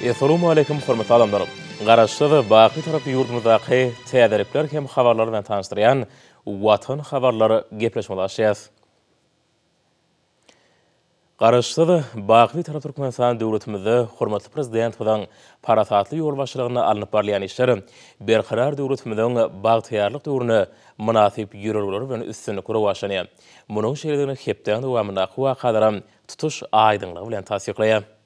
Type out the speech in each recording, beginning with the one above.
Essalamualeýkum hormatly adamlar! Garaşsyz, baky Türk ýurdumyzdaky täzelikler hem habarlar bilen tanyşdyrýan Watan habarlar gepleşigimizi açýas. Garaşsyz, baky Türk Türkmenistan döwletimizde hormatly Prezidentimiziň parasatly ýolbaşçylygynda alnyp barylýan işler Berkarar döwletimiziň bagtyýarlyk döwrüne mynasyp ýörelgeler bilen üstünlikli rowaçlanýar. Munuň şeýledigini hepdäň dowamyndaky wakalaram tutuş aýdyňlygy bilen tassyklaýar.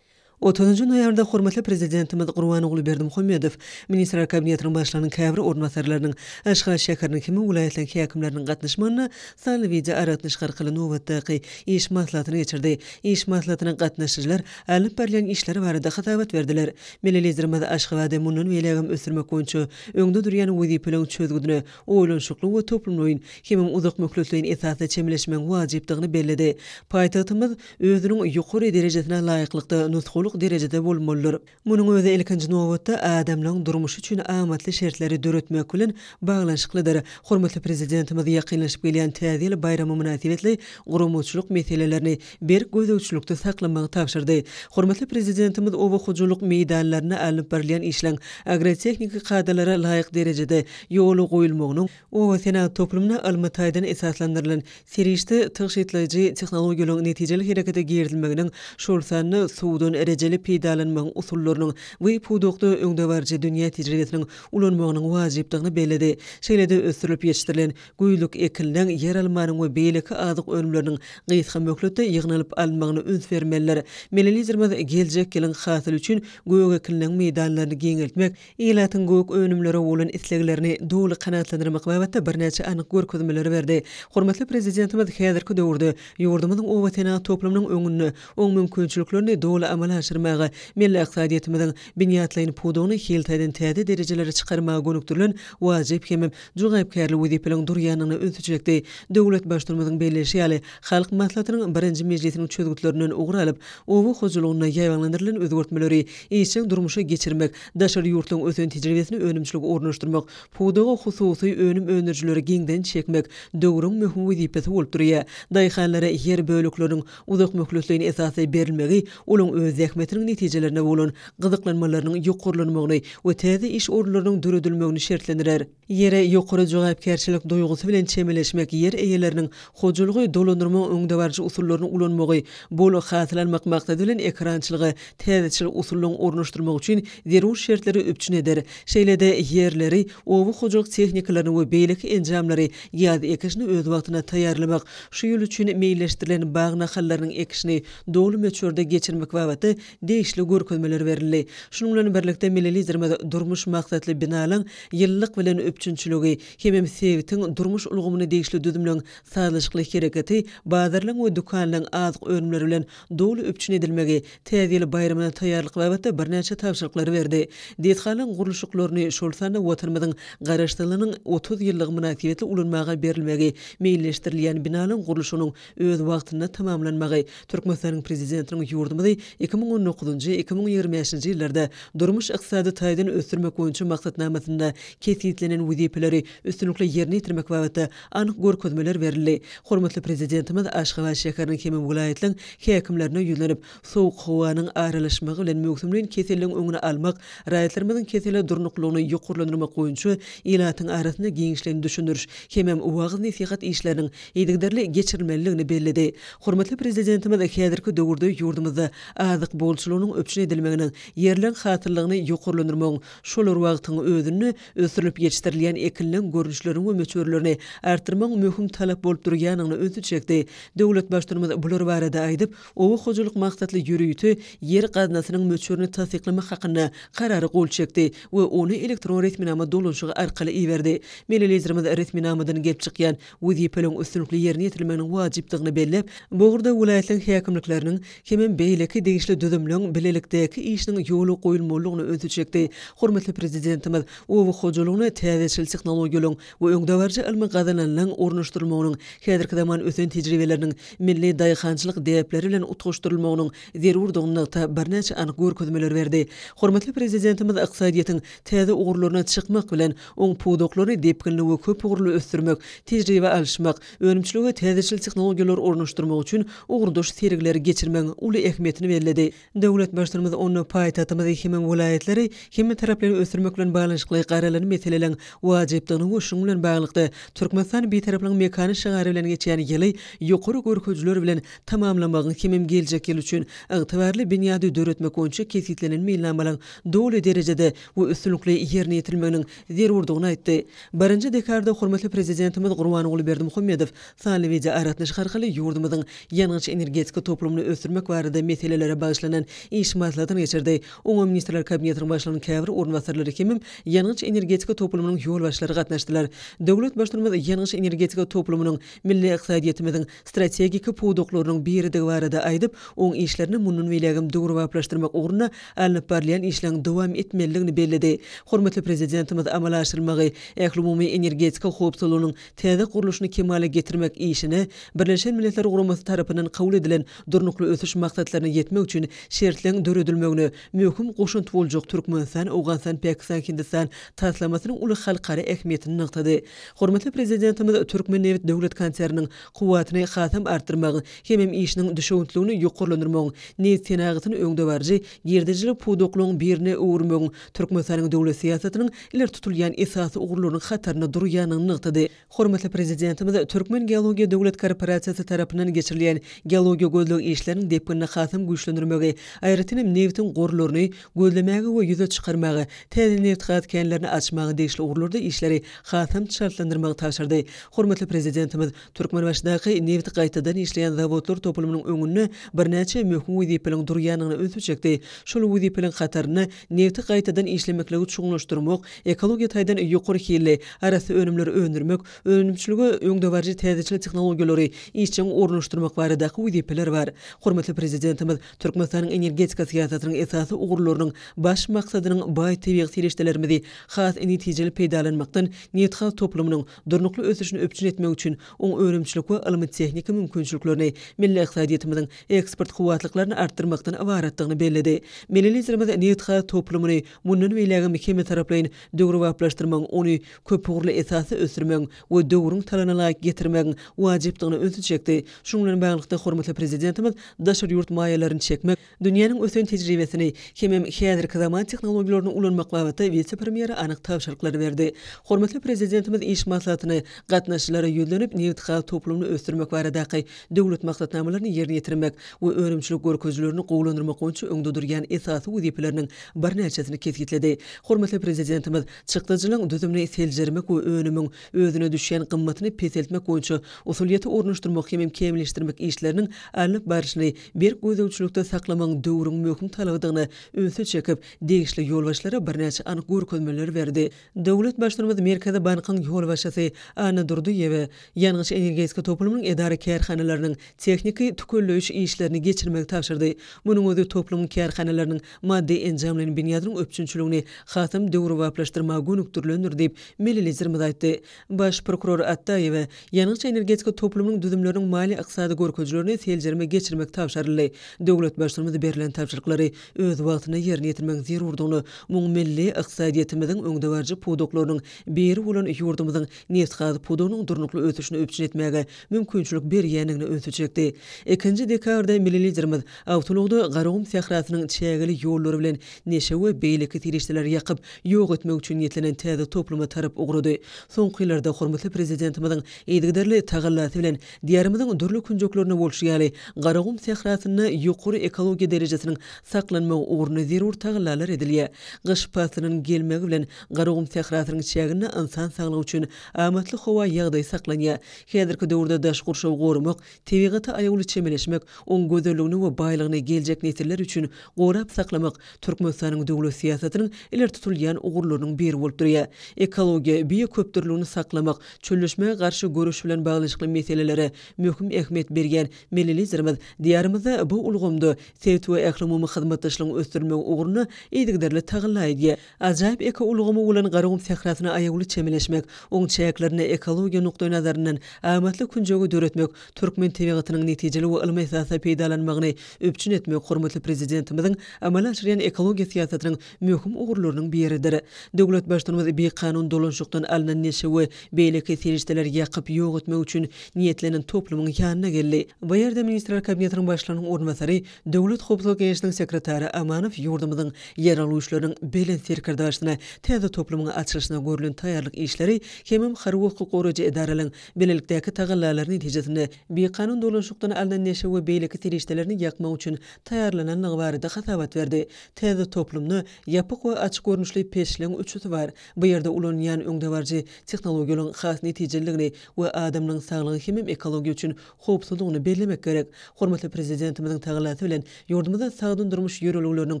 Otuzynjy noýabrda hormatly Prezidentimiz Gurbanguly Berdimuhamedow Ministrler Kabinetiniň Başlygynyň käbir orunbasarlarynyň, Aşgabat şäheriniň hem-de welaýatlaryň häkimleriniň gatnaşmagynda sanly wideoaragatnaşyk arkaly nobatdaky iş maslahatyny geçirdi. Iş maslahatyna gatnaşyjylar alnyp barylýan işler barada hasabat berdiler. Milli Liderimiz Aşgabady mundan beýlägem ösdürmek boýunça öňde durýan wezipeleriň çözgüdine oýlanyşykly we toplumlaýyn hemem uzakmöhletleýin esasda çemeleşmegiň wajypdygyny belledi. Paýtagtymyz özüniň ýokary derejesine laýyklykda nusgalyk derejede bolmalydyr. Munuň özi ilkinji nobatda adamlaryň durmuşy üçin amatly şertleri döretmek bilen baglanyşyklydyr. Hormatly Prezidentimiz ýakynlaşyp gelýän Täze ýyl baýramy mynasybetli guramaçylyk meselelerini, berk gözegçilikde saklamagy tabşyrdy. Hormatly Prezidentimiz oba hojalyk meýdanlarynda alnyp barylýan işleň agrotehniki kadalara laýyk derejede ýola goýulmagynyň, obasenagat toplumyna ylmy taýdan esaslandyrylan serişde tygşytlaýjy tehnologiýalaryň netijeli herekete girizilmeginiň, şol sanda suwdan rejeli peýdalanmagyň usullarynyň bu pudakda öňdebaryjy dünýä tejribesiniň ulanmagynyň wajypdygyny belledi. Şeýle-de ösdürilip ýetişdirilen Güýzlük ekilen ýeralmanyň we beýleki azyk önümleriniň gysga möhletde ýygnalyp alynmagyna üns bermelidir. Milli Liderimiz geljek ýylyň hasyly üçin gök ekilen meýdanlaryny giňeltmek, ilatyň gök önümlere bolan isleglerini doly kanagatlandyrmak babatda birnäçe anyk görkezmeleri berdi. Hormatly Prezidentimiz häzirki döwürde ýurdumyzyň obasenagat toplumynyň öňünde oň mümkinçiliklerini doly amala aşyrmaga, milli ykdysadyýetimiziň binýatlaýyn pudagyny hil taýdan täze derejelere çykarmaga gönükdirilen wajyp hem jogapkärli wezipeleriň durýandygyna ünsi çekdi. Döwlet Baştutanymyzyň belleýşi ýaly, Halk Maslahatynyň birinji mejlisiniň çözgütlerinden ugur alyp, oba hojalygyna ýaýbaňlandyrylan özgertmeleri işjeň durmuşa geçirmek, daşary ýurtlaryň ösen tejribesini önümçilige ornaşdyrmak, pudaga hususy önüm öndürijileri giňden çekmek döwrüň möhüm wezipesi bolup durýar. Daýhanlara ýer bölekleriniň Uzak möhletleýin esasda berilmegi olaň öz zähmetiniň netijelerine bolan gyzyklanmalarynyň ýokarlanmagyny we täze iş orunlarynyň döredilmegini şertlendirer. Ýere ýokary jogapkärçilik duýgusy bilen çemeleşmek ýer eýeleriniň hojalygy dolandyrmagyň öňdebaryjy usullaryny ulanmagy, bol hasyl almak maksady bilen ekerançylyga täzeçil usullaryň ornaşdyrmagy üçin zerur şertleri üpjün eder, şeýle-de ýerleri, oba hojalyk tehnikalaryny we beýleki enjamlary ýaz ekişine öz wagtynda taýýarlamak Şu ýyl üçin meýilleşdirilen bag nahallarynyň ekişini doly möçberde geçirmek babatda degişli görkezmeler berildi. Şunuň bilen birlikde, milli Liderimiz durmuş maksatly binalaryň ýylylyk bilen üpjünçiligi, hemem sebitiň durmuş ulgamyna degişli düzümleň sazlaşykly hereketi, bazarlaryň we dükanlaryň azyk önümleri bilen doly üpjün edilmegi, Täze ýyl baýramyna taýýarlyk babatda birnäçe tabşyryklary berdi. Desgalaryň gurluşyklaryny, şol sanda Watanymyzyň Garaşsyzlygynyň otuz ýyllygy mynasybetli ulanmaga berilmegi, meýilleşdirilýän binalaryň gurluşygynyň öz wagtynda tamamlanmagy Türkmenistanyň Prezidentiniň ýurdumyzy iki müň on dokuzynjy, iki müň ýigrimi bäşinji ýyllarda durmuş-ykdysady taýdan ösdürmek boýunça maksatnamasynda kesgitlenen wezipeleri üstünlikli ýerine ýetirmek babatda anyk görkezmeler berildi. Hormatly Prezidentimiz Aşgabat şäheriniň hemem welaýatlaň häkimlerine ýüzlenip, sowuk howanyň aralaşmagy bilen möwsümleýin keselligiň öňüni almak, raýatlarymyzyň kesele durnuklylygyny ýokarlandyrmak boýunça ilatyň arasynda giňişleýin düşündiriş hemem wagyz-nesihat işleriniň yzygiderli geçirilmelidigini belledi. Hormatly Prezidentimiz häzirki döwürde ýurdumyzda azyk bolçulygynyň üpjün edilmeginiň, ýerleň hasyllygyny ýokarlandyrmagyň şol bir wagtyň özünde Ösdürilip ýetişdirilýän ekinleň görnüşlerini we möçberlerini artdyrmagyň möhüm talap bolup durýanyna ünsi çekdi. Döwlet Baştutumyz bular barada aýdyp, oba hojalyk maksatly ýörite ýer gaznasynyň möçberini tassyklamak hakynda Karara gol çekdi we ony elektron resminama dolanyşygy arkaly iberdi. Milli Liderimiz resminamadan gelip çykýan wezipeleriň üstünlikli ýerine ýetirilmeginiň wajypdygyny belläp, bu ugurda welaýatlaryň häkimlikleriniň hemem beýleki degişli düzümleriň bilelikdäki işiniň ýola goýulmalydygyna ünsi çekdi. Hormatly Prezidentimiz oba hojalygyna täzeçil tehnologiýalaryň we öňdebaryjy ylmy gazananlaryň ornaşdyrylmagynyň, häzirki zaman ösen tejribeleriniň milli daýhançylyk däpleri bilen utgaşdyrylmagynyň zerurdygyny nygtap, birnäçe anyk görkezmeler berdi. Hormatly Prezidentimiz ykdysadyýetiň täze ugurlaryna çykmak bilen, Oň pudaklaryny depginli we köp ugurly ösdürmek, tejribe alyşmak, önümçilige täzeçil tehnologiýalary ornaşdyrmak üçin ugurdaş sergileri geçirmegiň uly ähmiýetini belledi. Döwlet Baştutanymyz onda paýtagtymyzy hem-de welaýatlary hemmetaraplaýyn ösdürmek bilen baglanyşykly garalan meseleleriň wajypdygyny we şunuň bilen baglylykda, Türkmenistan Bitaraplygyň mekany şygary bilen geçýän ýyly ýokary görkezijiler bilen tamamlamagyň hem-hem geljek ýyl üçin ygtybarly binýady döretmek boýunça kesgitlenen meýilnamalaryň doly derejede we üstünlikli ýerine ýetirilmeginiň zerurdygyny aýtdy. Birinji dekabrda hormatly Prezidentimiz Gurbanguly Berdimuhamedow sanly wideoaragatnaşyk arkaly ýurdumyzyň ýangyç-energetika toplumyny ösdürmek barada meselelere bagyşlanan iş maslahatyny geçirdi. Oňa Ministrler Kabinetiniň Başlygynyň käbir orunbasarlary hemem ýangyç-energetika toplumynyň ýolbaşçylary gatnaşdylar. Döwlet Baştutumymyz ýangyç-energetika toplumynyň milli ykdysadyýetimiziň strategik pudaklarynyň biridigi barada aýdyp, oň işlerini mundan beýlägem döwrebaplaşdyrmak ugrunda alnyp barylýan işleň dowam etmelidigini belledi. Hormatly Prezidentimiz amala aşyrylmagy ählumumy energetika howpsuzlygynyň täze gurluşyny kemala getirmek işine Birleşen Milletler Guramasy tarapyndan kabul edilen Durnukly ösüş maksatlaryna ýetmek üçin şertleň döredilmegine möhüm goşant boljak Türkmenistan-Owganystan-Pakistan-Hindistan taslamasynyň uly halkara ähmiýetini nygtady. Hormatly Prezidentimiz Türkmennebit döwlet konserniniň kuwwatyny hasam artdyrmagyň hemem işiniň düşewüntligini ýokarlandyrmagyň, nebit senagatyny öňdebaryjy girdejili pudaklaryň birine öwürmegiň Türkmenistanyň döwlet syýasatynyň ileri tutulýan esasy ugurlarynyň hatarynda durýandygyny nygtady. Hormatly Prezidentimiz Türkmengeologiýa döwlet korporasiýasy tarapyndan geçirilýän geologiýa-gözleg işleriniň depginini hasam güýçlendirmegi, aýratynam nebitiň gorlaryny, gözlemäge we ýüze çykarmaga, täze nebitgaz känlerini açmaga degişli ugurlarda işleri hasam çaltlandyrmagy tabşyrdy. Hormatly Prezidentimiz Türkmenbaşydaky nebit gaýtadan işleýän zawodlar toplumynyň öňünde birnäçe möhüm wezipeliň durýandygyna ünsi çekdi, şol wezipeliň hatarynda nebiti gaýtadan işlemekligi çuňlaşdyrmak, ekologiýa taýdan ýokary hilli, arassa önümleri öndürmek, önümçilige öňdebaryjy täzeçil tehnologiýalary işjeň ornaşdyrmak baradaky wezipeler bar. Hormatly Prezidentimiz Türkmenistanyň energetika syýasatynyň esasy ugurlarynyň baş maksadynyň baý tebigy serişdelerimizi has netijeli peýdalanmakdan nebitgaz toplumynyň durnukly ösüşini üpjün etmek üçin oň önümçilik we ylmy-tehniki mümkinçiliklerini, milli ykdysadyýetimiziň eksport kuwwatlyklaryny artdyrmakdan ybaratdygyny belledi. Milli Liderimiz nebitgaz toplumyny mundan beýlägem hemmetaraplaýyn döwrebaplaşdyrmagyň, ony köpugurly esasda ösdürmegiň, we döwrüň talabyna laýyk getirmegiň wajypdygyna ünsi çekdi. Şunuň bilen baglylykda, hormatly Prezidentimiz daşary ýurt maýalaryny çekmek, dünýäniň ösen tejribesini hemem häzirki zaman tehnologiýalaryny ulanmak babatda wise-premýere anyk tabşyryklary berdi. Hormatly Prezidentimiz iş maslahatyny gatnaşyjylara ýüzlenip, nebitgaz toplumyny ösdürmek baradaky döwlet maksatnamalaryny ýerine ýetirmek we önümçilik görkezijilerini gowulandyrmak boýunça öňde durýan esasy wezipeleriniň birnäçesini kesgitledi. Hormatly Prezidentimiz. Çykdajynyň düzümini seljermek we önümiň özüne düşýän gymmatyny peseltmek boýunça usulyýeti ornaşdyrmak hemem kämilleşdirmek işleriniň alnyp baryşyny berk gözegçilikde saklamagyň döwrüň möhüm talabydygyny ünsi çekip, degişli ýolbaşçylara birnäçe anyk görkezmeleri berdi. Döwlet Baştutumyz Merkezi bankyň ýolbaşçysy Anna Durdyýewe ýangyç-energetika toplumynyň edara-kärhanalarynyň tehniki tükelleýiş işlerini geçirmegi tabşyrdy. Munuň özi toplumyň kärhanalarynyň maddy enjamlaýyn binýadynyň üpjünçiligini hasam döwrebaplaşdyrmaga gönükdirilendir diýip, milli Liderimiz aýtdy. Baş prokuror Atdaýewe ýangyç-energetika toplumynyň düzümleriniň maliýe-ykdysady görkezijilerini seljerme geçirmek tabşaryldy. Döwlet Baştutanymyz berlen tabşyryklary öz wagtynda ýerine ýetirmegiň zerurdygyny, muň milli ykdysadyýetimiziň öňdebaryjy pudaklarynyň biri bolan ýurdumyzyň nebitgaz pudagynyň durnukly ösüşini üpjün etmäge mümkinçilik berýändigine ünsi çekdi. Ikinji dekabrda milli Liderimiz awtoulagda Garagum sährasynyň çägeli ýollary bilen neşe we beýleki serişdeleri ýakyp, ýok etmek üçin niýetlenen täze topluma tarap ugrady. Soňky ýyllarda hormatly Prezidentimiziň yzygiderli tagallasy bilen Diýarymyzyň dürli künjeklerinde bolşy ýaly, Garagum sährasynda ýokary ekologiýa derejesiniň saklanmagy ugrunda zerur tagallalar edilýär. Gyş paslynyň gelmegi bilen Garagum sährasynyň çäginde ynsan saglygy üçin amatly howa ýagdaýy saklanýar. Häzirki döwürde daş gurşawy goramak, tebigata aýawly çemeleşmek, oň gözelligini we baýlygyny geljek nesiller üçin gorap saklamak Türkmenistanyň döwlet syýasatynyň ileri tutulýan ugurlarynyň biri bolup durýar. Ekologiýa, bioköpdürlügini saklamak, çölleşmä garşy göreş bilen baglanyşykly meselelere möhüm ähmiýet berýän milli Liderimiz Diýarymyzda bu ulgamda sebit we ählumumy hyzmatdaşlygyň ösdürilmegi ugrunda yzygiderli tagalla edýär. Ajaýyp ekoulgamy bolan Garagum sährasyna aýawly çemeleşmek, oň çäklerinde ekologiýa nukdaýnazaryndan amatly künjegi döretmek, türkmen tebigatynyň netijeli we ylmy esasda peýdalanmagyny üpjün etmek hormatly Prezidentimiziň amala aşyrýan ekologiýa syýasatynyň möhüm ugurlarynyň biridir. Döwlet Baştutanymyz bikanun dolanşykdan alnan neşe we beýleki serişdeleri ýakyp ýok etmek üçin niýetlenen toplumyň ýanyna geldi. Bu ýerde Ministrler Kabinetiniň Başlygynyň orunbasary, Döwlet howpsuzlyk geňeşiniň sekretary Amanow ýurdumyzyň Ýeraldy güýçleriniň Belent Serkerdeşine täze toplumyň açylyşyna görlen taýýarlyk işleri hemem harby hukuk goraýjy edaralaryň bilelikdäki tagallalary netijesinde bikanun dolanşykdan alnan neşe we beýleki serişdelerini ýakmak üçin taýýarlanandygy barada hasabat berdi. Täze toplumda ýapyk we açyk görnüşli peçleň üçüsi bar. Bu ýerde ulanylýan öňdebaryjy tehnologiýalaryň has netijeliligini we adamlaryň saglygy hemem ekologiýa üçin howpsuzlygyny bellemek gerek. Hormatly Prezidentimiziň tagallasy bilen, ýurdumyzda sagdyn durmuş ýörelgeleriniň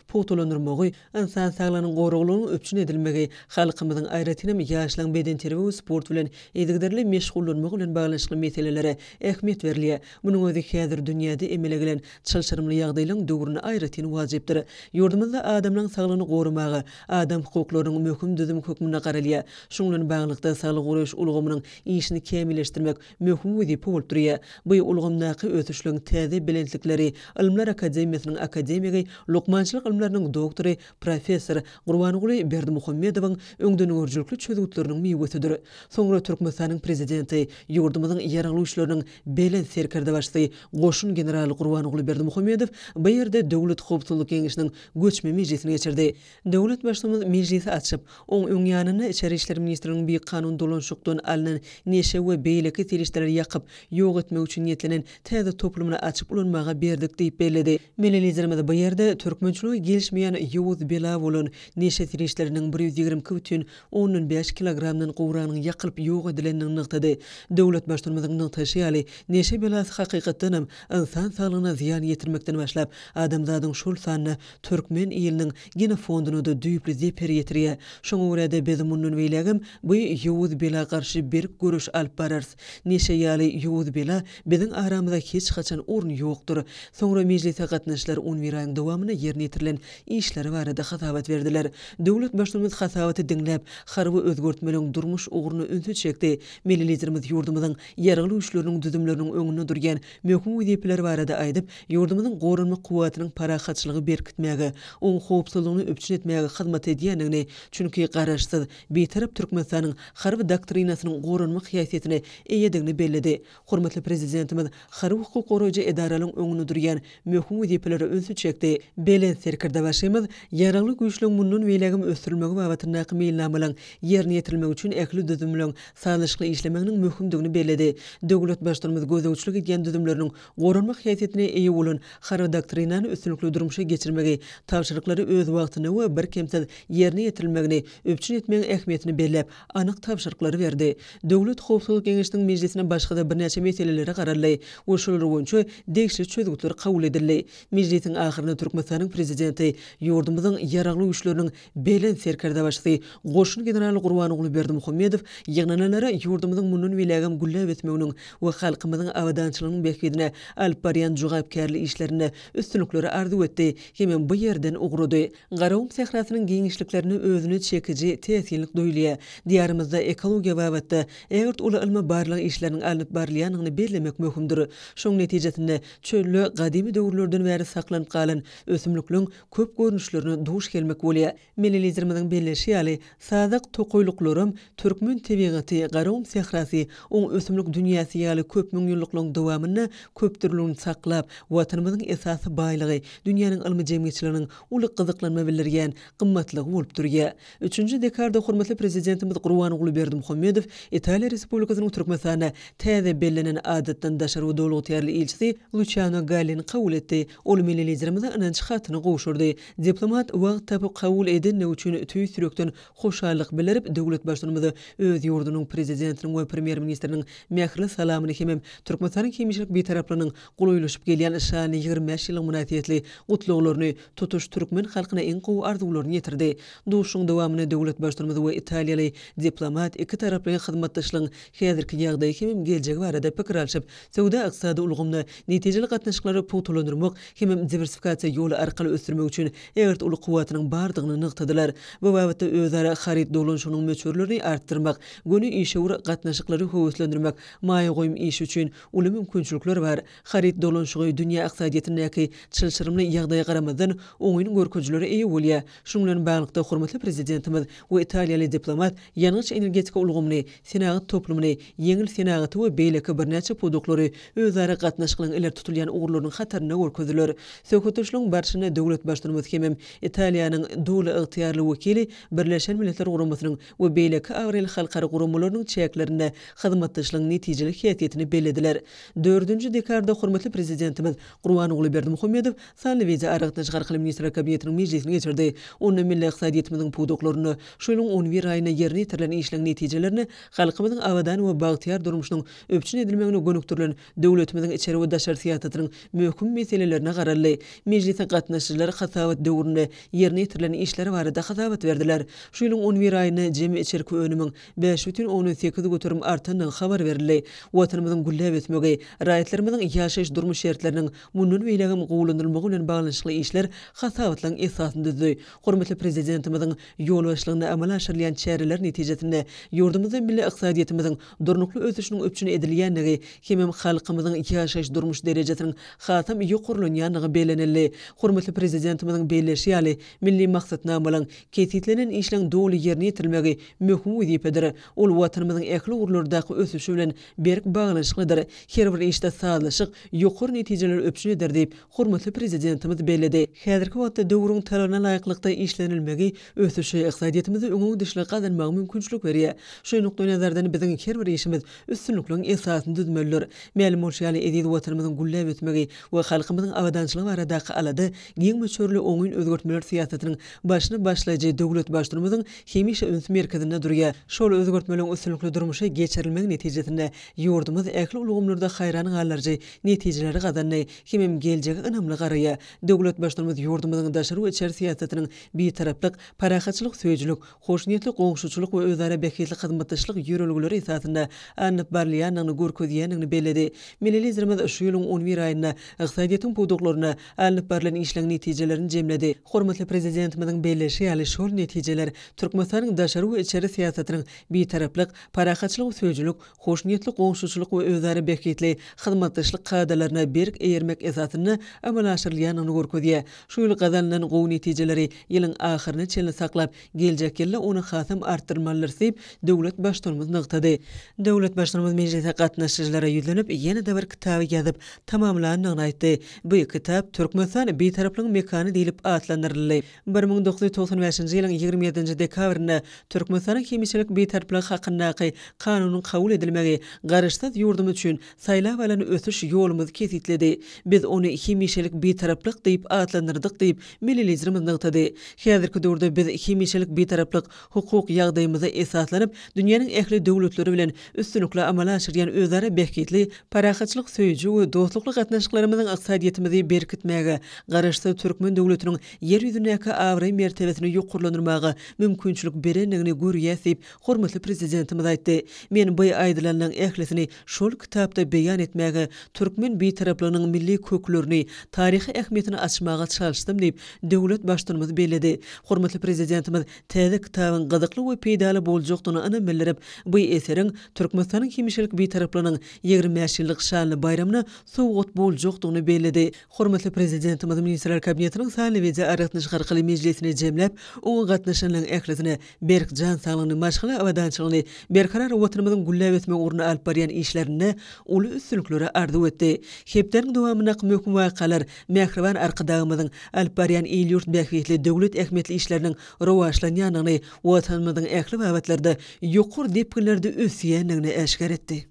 pugtalandyrylmagy, ynsan saglygynyň goraglygynyň üpjün edilmegi, halkymyzyň, aýratynam, ýaşlaryň bedenterbiýe we sport bilen yzygiderli meşgullanmagy bilen baglanyşykly meselelere ähmiýet berilýär. Munuň özi häzir dünýäde emele gelen çylşyrymly ýagdaýlaryň döwründe aýratyn wajypdyr. Ýurdumyzda adamlaryň saglygyny goramaga adam hukuklarynyň möhüm düzümi hökmünde garalýar. Şunuň bilen baglylykda, saglygy goraýyş ulgamynyň işini kämilleşdirmek, möhüm wezipe bolup durýar. Bu ulgamdaky ösüşligiň täze belentlikleri Ylymlar akademiýasynyň akademigi, lukmançylyk ylmlarynyň doktory, professor Gurbanguly Berdimuhamedowyň öňdengörüjilikli çözgütleriniň miwesidir. Soňra Türkmenistanyň Prezidenti, ýurdumyzyň Ýarag güýçleriniň Belent Serkerdebaşysy, goşun generaly Gurbanguly Berdimuhamedow bu ýerde Döwlet howpsuzlyk geňeşiniň göçme mejlisini geçirdi. Döwlet Baştutanymiz mejlisi açyp, oň öň ýanynda Içeri işler ministrliginiň bikanun dolanşykdan alnan neşe we beýleki serişdeleri ýakyp, ýok etmek üçin niýetlenen täze toplumyny açyp ulanmaga berdik diýip belledi. Milli Liderimiz bu ýerde türkmençiligi gelişmeýän ýowuz bela bolan neşe serişdeleriniň bir ýüz ýigrimi iki bütin ondan bäş kilogramdan gowragynyň ýakylyp ýok edilendigini nygtady. Döwlet Baştutanymyzyň nygtaýşy ýaly, neşe belasy hakykatdanam ynsan saglygyna zyýan ýetirmekden başlap, adamzadyň şol sanda türkmen iliniň genofonduna-da düýpli zeper ýetirýär. Şoňa görä-de biz mundan beýlägem bu ýowuz bela garşy berk göreş alyp bararys. Neşe ýaly ýowuz bela biziň aramyza hiç haçan orun ýokdur. Soňra mejlise gatnaşyjylar on bir aýyň dowamynda ýerine ýetirilen işleri barada hasabat berdiler. Döwlet Baştutanymyz hasabaty diňläp, harby özgertmeleriň durmuş ugruna ünsi çekdi. Milli Liderimiz ýurdumyzyň Ýaragly Güýçleriniň düzümleriniň öňünde durýan möhüm wezipeler barada aýdyp, ýurdumyzyň goranmak kuwwatynyň parahatçylygy berkitmäge, oň howpsuzlygyny üpjün etmäge hyzmat edýändigini, çünki Garaşsyz, Bitarap Türkmenistanyň harby doktrinasynyň goranmak häsiýetine eýedigini belledi. Hormatly Prezidentimiz harby-hukuk goraýjy edaralaryň öňünde durýan möhüm wezipelere ünsi çekdi. Belent Serkerdebaşymyz Ýaragly Güýçleň mundan beýlägem ösdürilmegi babatyndaky meýilnamalaryň ýerine ýetirilmegi üçin ähli düzümleň sazlaşykly işlemeginiň möhümdigini belledi. Döwlet Baştutumyz gözegçilik edýän düzümleriniň goranmak häsiýetine eýe bolan Harby doktrinany üstünlikli durmuşa geçirmegi, tabşyryklary öz wagtynda we birkemsiz ýerine ýetirilmegini üpjün etmegiň ähmiýetini belläp, anyk tabşyryklary berdi. Döwlet howpsuzlyk geňeşiniň mejlisinde başga-da birnäçe meselelere garaldy we şolar boýunça degişli çözgütler kabul edildi. Mejlisiň ahyrynda Türkmenistanyň Prezidenti ýurdumyzyň Ýaragly Güýçleriniň Belent Serkerdebaşysy goşun generaly Gurbanguly Berdimuhamedow ýygnanalara ýurdumyzyň mundan beýlägem gülläp ösmeginiň we halkymyzyň abadançylygynyň bähbidine alyp barýan jogapkärli işlerinde üstünlikleri arzuw etdi hemem bu ýerden ugrady. Garagum sährasynyň giňişliklerinde özüne çekiji täsinlik duýulýar. Diýarymyzda ekologiýa babatda ägirt uly ylmy-barlag işleriniň alnyp barylýandygyny bellemek möhümdir. Şonuň netijesinde çölde gadymy döwürlerden bäri saklanyp galan ösümlikleň köp görnüşlerine duş gelmek bolýar. Milli Liderimiziň belleşi ýaly, sazak tokaýlyklaram türkmen tebigaty, Garagum sährasy, oň ösümlik dünýäsi ýaly köpmüňýyllyklaryň dowamynda köpdürlüligini saklap, Watanymyzyň esasy baýlygy, dünýäniň ylmy jemgyýetçiliginiň uly gyzyklanma bildirýän gymmatlygy bolup durýar. Üçünji dekarda hormatly Prezidentimiz Gurbanguly Berdimuhamedow Italiýa Respublikasynyň Türkmenistanda täze bellenen Adatdan daşary we Doly ygtyýarly ilçisi Luçiano Gallini kabul etdi. Ol milli Liderimize ynanç hatyny gowşurdy. Diplomat wagt tapyp kabul edendigi üçin tüýs ýürekden hoşallyk bildirip, döwlet Baştutanymyza öz ýurdunyň Prezidentiniň we Premýer-ministriniň mähirli salamyny hemem Türkmenistanyň hemişelik Bitaraplygynyň golaýlaşyp gelýän şanly ýigrimi bäş ýyllygy mynasybetli gutlaglaryny, tutuş türkmen halkyna iň gowy arzuwlaryny ýetirdi. Duşuşygyň dowamynda döwlet Baştutanymyz we italiýaly diplomat iki taraply hyzmatdaşlygyň häzirki ýagdaýy hemem geljegi barada pikir alşyp, Söwda-ykdysady ulgamda netijeli gatnaşyklary pugtalandyrmak hem diwersifikasiýa ýoly arkaly ösdürmek üçin ägirt uly kuwwatynyň bardygyny nygtadylar. Bu babatda özara haryt dolanyşygynyň möçberlerini artdyrmak, göni işewür gatnaşyklary höweslendirmek, maýa goýum işi üçin uly mümkinçilikler bar. Haryt dolanyşygy dünýä ykdysadyýetindäki çylşyrymly ýagdaýa garamazdan, oňyn görkezijilere eýe bolýar. Şunuň bilen baglylykda, hormatly Prezidentimiz we italiýaly diplomat ýangyç-energetika ulgamyny, senagat toplumyny, ýeňil senagaty we beýleki birnäçe pudaklary özara gatnaşyklaryň ileri tutulýan ugurlarynyň hatarynda görkezdiler. Söhbetdeşligiň barşynda döwlet Baştutanymyz hemem Italiýanyň Doly ygtyýarly wekili Birleşen Milletler Guramasynyň we beýleki abraýly halkara guramalarynyň çäklerinde hyzmatdaşlygyň netijeli häsiýetini bellediler. Dördünji dekarda hormatly Prezidentimiz Gurbanguly Berdimuhamedow sanly wideoaragatnaşyk arkaly Ministrler Kabinetiniň mejlisini geçirdi. Onda milli ykdysadyýetimiziň pudaklarynda şu ýylyň on bir aýynda ýerine ýetirilen işleriň netijelerini, halkymyzyň abadan we bagtyýar durmuşynyň üpjün edilmegine gönükdirilen döwletimiziň içeri we daşary syýasatynyň möhüm meselelerine garaldy. Mejlise gatnaşyjylar hasabat döwründe ýerine ýetirilen işler barada hasabat berdiler. Şu ýylyň on bir aýynda jemi içerki önümiň bäş bütin ondan sekiz göterim artandygy habar berildi. Watanymyzyň gülläp ösmegi, raýatlarymyzyň ýaşaýyş-durmuş şertleriniň mundan beýlägem gowulandyrylmagy bilen baglanyşykly işler hasabatlaryň esasyny düzdi. Hormatly Prezidentimiziň ýolbaşçylygynda amala aşyrylýan çäreler netijesinde ýurdumyzda milli ykdysadyýetimiziň durnukly ösüşiniň üpjün edilýändigi hemem halkymyzyň ýaşaýyş-durmuş derejesiniň hasam ýokarlanýandygy bellenildi. Hormatly Prezidentimiziň belleýşi ýaly, milli maksatnamalaryň Kesgitlenen işleň doly ýerine ýetirilmegi möhüm wezipedir. Ol Watanymyzyň ähli ugurlardaky ösüşi bilen berk baglanyşyklydyr. Her bir işde sazlaşyk ýokary netijeleri üpjün eder diýip, hormatly Prezidentimiz belledi. Häzirki wagtda döwrüň talabyna laýyklykda işlenilmegi ösüşi, ykdysadyýetimize öňegidişligi gazanmaga mümkinçilik berýär. Şu nukdaýnazardan biziň her bir işimiz üstünlikligiň esasyny düzmelidir. Mälim bolşy ýaly, eziz Watanymyzyň gülläp ösmegi we halkymyzyň abadançylygy baradaky alada Giň möçberli oňyn özgertmeler syýasatynyň başyny başlaýjy döwlet Baştutanymyzyň hemişe üns merkezinde durýar. Şol özgertmeleriň üstünlikli durmuşa geçirilmegi netijesinde ýurdumyz ähli ulgamlarda haýran galdyryjy netijeleri gazandy hemem geljege ynamly garaýar. Döwlet Baştutanymyz ýurdumyzyň daşary we içeri syýasatynyň bitaraplyk, parahatçylyk söýüjilik, hoşniýetli goňşuçylyk we özara bähbitli hyzmatdaşlyk ýörelgeleri esasynda alnyp barylýandygyny görkezýändigini belledi. Milli Liderimiz şu ýylyň on bir aýynda ykdysadyýetiň pudaklarynda alnyp barlan işleň netijelerini jemledi. Hormatly Prezidentimiziň belleýşi ýaly, şol netijeler Türkmenistanyň daşary we içeri syýasatynyň bitaraplyk, parahatçylyk söýüjilik, hoşniýetli goňşuçylyk we özara bähbitli hyzmatdaşlyk kadalaryna berk eýermek esasynda amala aşyrylýandygyny görkezýär. Şu ýyl gazanylan gowy netijeleri ýylyň ahyryna çenli saklap, geljek ýylda ony hasam artdyrmalydyrys diýip, döwlet Baştutanymyz nygtady. Döwlet Baştutanymyz mejlise gatnaşyjylara ýüzlenip, ýene-de bir kitaby ýazyp tamamlandygyny aýtdy. Bu kitap Türkmenistan Bitaraplygyň mekany diýlip atlandyryldy. Bir müň dokuz ýüz togsan bäşinji ýylyň ýigrimi ýedinji dekabrynda Türkmenistanyň Hemişelik Bitarplygy hakyndaky Kanunyň kabul edilmegi Garaşsyz ýurdumyz üçin saýlap alan ösüş ýolumyzy kesgitledi. Biz ony Hemişelik Bitaraplyk diýip atlandyrdyk diýip, Milli Liderimiz nygtady. Häzirki döwürde biz Hemişelik Bitaraplyk hukuk ýagdaýymyza esaslanyp, dünýäniň ähli döwletleri bilen üstünlikli amala aşyrýan özara bähbitli, parahatçylyk söýüji we dostlukly gatnaşyklarymyzyň ykdysadyýetimizi berkitmäge, Garaşsyz türkmen döwletiniň Ýer ýüzündäki abraý-mertebesini ýokarlandyrmaga mümkinçilik berendigini görýäs diýip, hormatly Prezidentimiz aýtdy. Men bu aýdylanyň ählisini Şol kitapda beýan etmäge, türkmen Bitaraplygynyň milli köklerini, taryhy ähmiýetini açmaga çalyşdym diýip, döwlet Baştutanymyz belledi. Hormatly Prezidentimiz täze kitabyň gyzykly we peýdaly boljakdygyna ynam bildirip, bu eseriň Türkmenistanyň hemişelik Bitaraplygynyň ýigrimi bäş ýyllyk şanly baýramyna sowgat boljakdygyny belledi. Hormatly Prezidentimiz Ministrler Kabinetiniň sanly wideoaragatnaşyk arkaly mejlisini jemläp, oňa gatnaşanlaryň ählisine berk jan saglygyny, maşgala abadançylygyny, berkarar Watanymyzyň gülläp ösmegi ugrunda alyp barýan işlerinde uly üstünlikleri arzuw etdi. Hepdäniň dowamyndaky möhüm wakalar mähriban Arkadagymyzyň alyp barýan il-ýurt bähbitli, döwlet ähmiýetli işleriniň rowaçlanýandygyny, Watanymyzyň ähli babatlarda ýokary depginlerde ösýändigini äşgär etdi.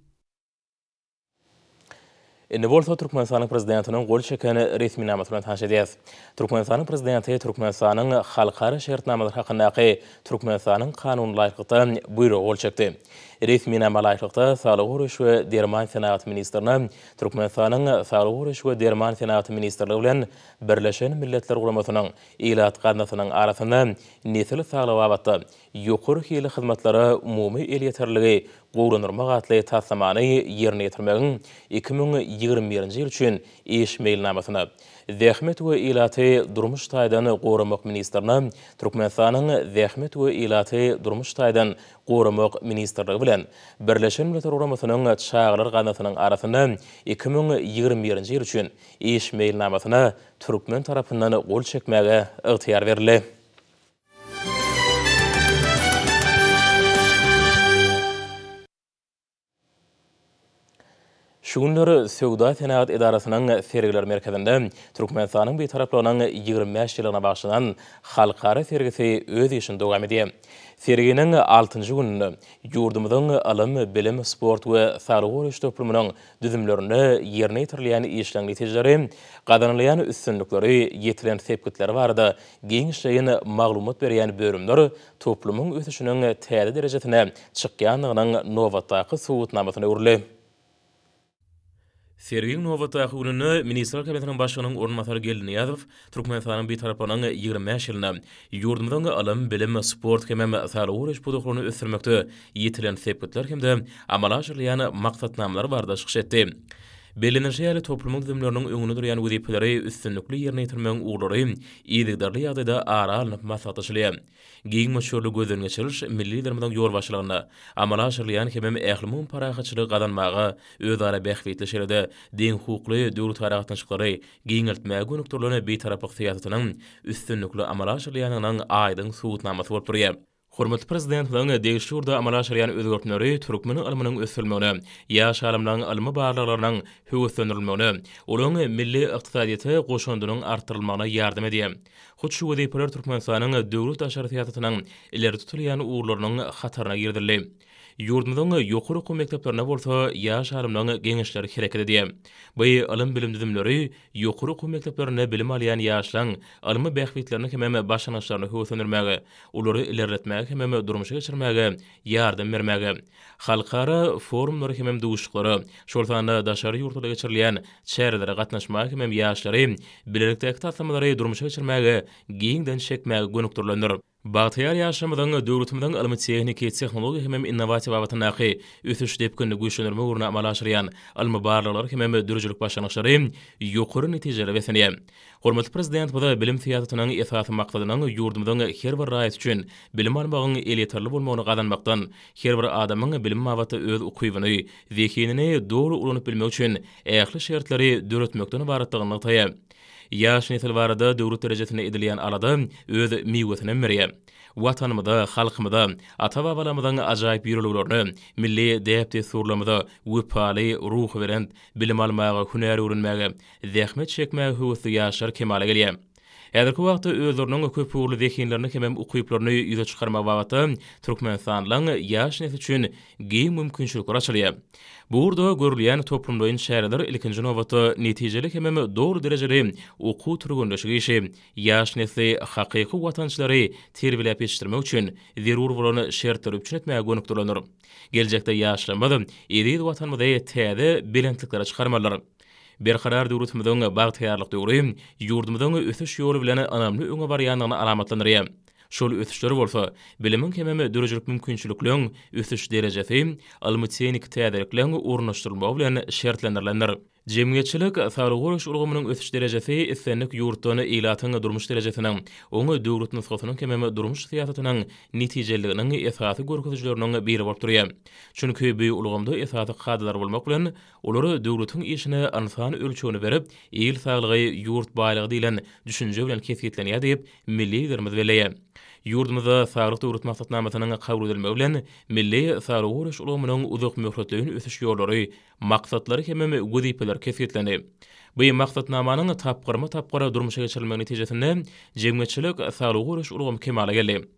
Indi bolsa Türkmenistanyň Prezidentiniň gol çeken resminamasy bilen tanyş edýäs. Türkmenistanyň Prezidenti Türkmenistanyň halkara şertnamalary hakyndaky Türkmenistanyň Kanunyna laýyklykda Buýruga gol çekdi. Resminama laýyklykda, Saglygy goraýyş we derman senagaty ministrine Türkmenistanyň Saglygy goraýyş we derman senagaty ministrligi bilen Birleşen Milletler Guramasynyň Ilat gaznasynyň arasynda nesil saglygy babatda ýokary hilli hyzmatlara umumy elýeterliligi gowulandyrmak atly taslamany ýerine ýetirmegiň iki müň ýigrimi birinji ýyl üçin iş meýilnamasyna, zähmet we ilaty durmuş taýdan goramak ministrine Türkmenistanyň Zähmet we ilaty durmuş taýdan goramak ministrligi bilen Birleşen Milletler Guramasynyň Çagalar gaznasynyň arasynda iki müň ýigrimi birinji ýyl üçin iş meýilnamasyna türkmen tarapyndan gol çekmäge ygtyýar berildi. Şu günler Söwda-senagat edarasynyň Sergiler merkezinde Türkmenistanyň Bitaraplygynyň ýigrimi bäş ýyllygyna bagyşlanan halkara sergisi öz işini dowam edýär. Serginiň altynjy gününde ýurdumyzyň ylym, bilim, sport we saglygy goraýyş toplumynyň düzümlerinde ýerine ýetirilýän işleň netijeleri, gazanylýan üstünlikleri, ýetilen sepgitleri barada giňişleýin maglumat berýän bölümler toplumyň ösüşiniň täze derejesine çykýandygynyň nobatdaky subutnamasyna öwrüldi. Sergiň nobatdaky gününde Ministrler Kabinetiniň Başlygynyň orunbasary Geldi Nyýazow Türkmenistanyň Bitaraplygynyň ýigrimi bäş ýylynda ýurdumyzyň ylym, bilim, sport hem-ä saglygy goraýyş pudaklaryny ösdürmekde ýetilen sepgitler hem-de amala aşyrylýan maksatnamalar barada çykyş etdi. Bellenilişi ýaly, toplumyň düzümleriniň öňünde durýan wezipeleri üstünlikli ýerine ýetirmegiň ugurlary yzygiderli ýagdaýda ara alnyp maslahatlaşylýar. Giň möçberli gözden geçiriliş milli Liderimiziň ýolbaşçylygynda amala aşyrylýan hemem ählumumy parahatçylygy gazanmaga, özara bähbitli, şeýle-de deňhukukly döwletaragatnaşyklary giňeltmäge gönükdirilen Bitaraplyk syýasatynyň üstünlikli amala aşyrylýandygynyň aýdyň subutnamasy bolup durýar. Hormatly Prezidentimiziň degişli ugurda amala aşyrýan özgertmeleri türkmen ylmynyň ösdürilmegine, ýaş alymlaryň ylmy barlaglarynyň höweslendirilmegine, olaryň milli ykdysadyýete goşandynyň artdyrylmagyna ýardam edýär. Hut şu wezipeler Türkmenistanyň döwlet daşary syýasatynyň ileri tutulýan ugurlarynyň hataryna girizildi. Ýurdumyzyň ýokary okuw mekdeplerinde bolsa ýaş alymlaryň geňeşleri hereket edýär. Bu ylym-bilim düzümleri ýokary okuw mekdeplerinde bilim alýan ýaşlaryň ylmy bähbitlerini hemem başlangyçlaryny höweslendirmäge, olary ilerletmäge hemem durmuşa geçirmäge ýardam bermäge, halkara forumlara hemem duşuşyklara, şol sanda daşary ýurtlarda geçirilýän çärelere gatnaşmaga hemem ýaşlary bilelikdäki taslamalary durmuşa geçirmäge giňden çekmäge gönükdirilendir. Bagtyýar ýaşymyzyň döwletimiziň ylmy-tehniki, tehnologiýa hemem innowasiýa babatyndaky ösüş depginini güýçlendirmek ugrunda amala aşyrýan ylmy barlaglary hemem döredijilik başlangyçlary ýokary netijelere beslenýär. Hormatly Prezidentimiz bilim syýasatynyň esasy maksadynyň ýurdumyzyň her bir raýaty üçin bilim almagyň elýeterli bolmagyny gazanmakdan, her bir adamyň bilim babatda öz ukybyny, zehinini doly ulanyp bilmegi üçin ähli şertleri döretmekden ybaratdygyny nygtaýar. Ýaş nesil barada döwlet derejesinde edilýän alada öz miwesinem berýär. Watanymyza, halkymyza, ata-babalarymyzyň ajaýyp ýörelgelerine, milli däp-dessurlarymyza wepaly, ruhubelent, bilim almaga, hünär öwrenmäge, zähmet çekmäge höwesli ýaşlar kemala gelýär. Häzirki wagtda özleriniň köpugurly zehinlerini hemem ukyplaryny ýüze çykarmak babatda Türkmenistanyň ýaş nesli üçin giň mümkinçilikler açylýar. Bu ugurda görülýän toplumlaýyn çäreler ilkinji nobatda netijeli hemem doly derejeli okuw-türgenleşik işi, ýaş nesli hakyky watançylary terbiýeläp ýetişdirmek üçin zerur bolan şertleri üpjün etmäge gönükdirilendir. Geljekde ýaşlarymyz eziz Watanymyzy täze belentliklere çykarmalydyr. Berkarar döwletimiziň bagtyýarlyk döwri ýurdumyzyň ösüş ýoly bilen ynamly öňe barýandygyny alamatlandyrýar. Şol ösüşler bolsa, bilimiň hemem döredijilik mümkinçilikleň ösüş derejesi, ylmy-tehniki täzelikleň ornaşdyrylmagy bilen şertlendirilendir. Jemgyýetçilik saglygy goraýyş ulgamynyň ösüş derejesi islendik ýurtdan ilatyň durmuş derejesiniň, oň döwlet nusgasynyň hemem durmuş syýasatynyň netijeliliginiň esasy görkezijileriniň biri bolup durýar. Çünki bu ulgamda esasy kadalar bolmak bilen, Olar döwletiň işine ynsan ölçegini berip, il saglygy, ýurt baýlygy diýlen düşünje bilen kesgitlenýär diýip, milli Liderimiz belleýär. Ýurdumyzda Saglyk Döwlet maksatnamasynyň kabul edilmegi bilen, milli saglygy goraýyş ulgamynyň uzakmöhletleýin ösüş ýollary, maksatlary hemem wezipeleri kesgitlendi. Bu Maksatnamanyň tapgyrma-tapgyr durmuşa geçirilmegi netijesinde jemgyýetçilik saglygy goraýyş ulgamy kemala geldi.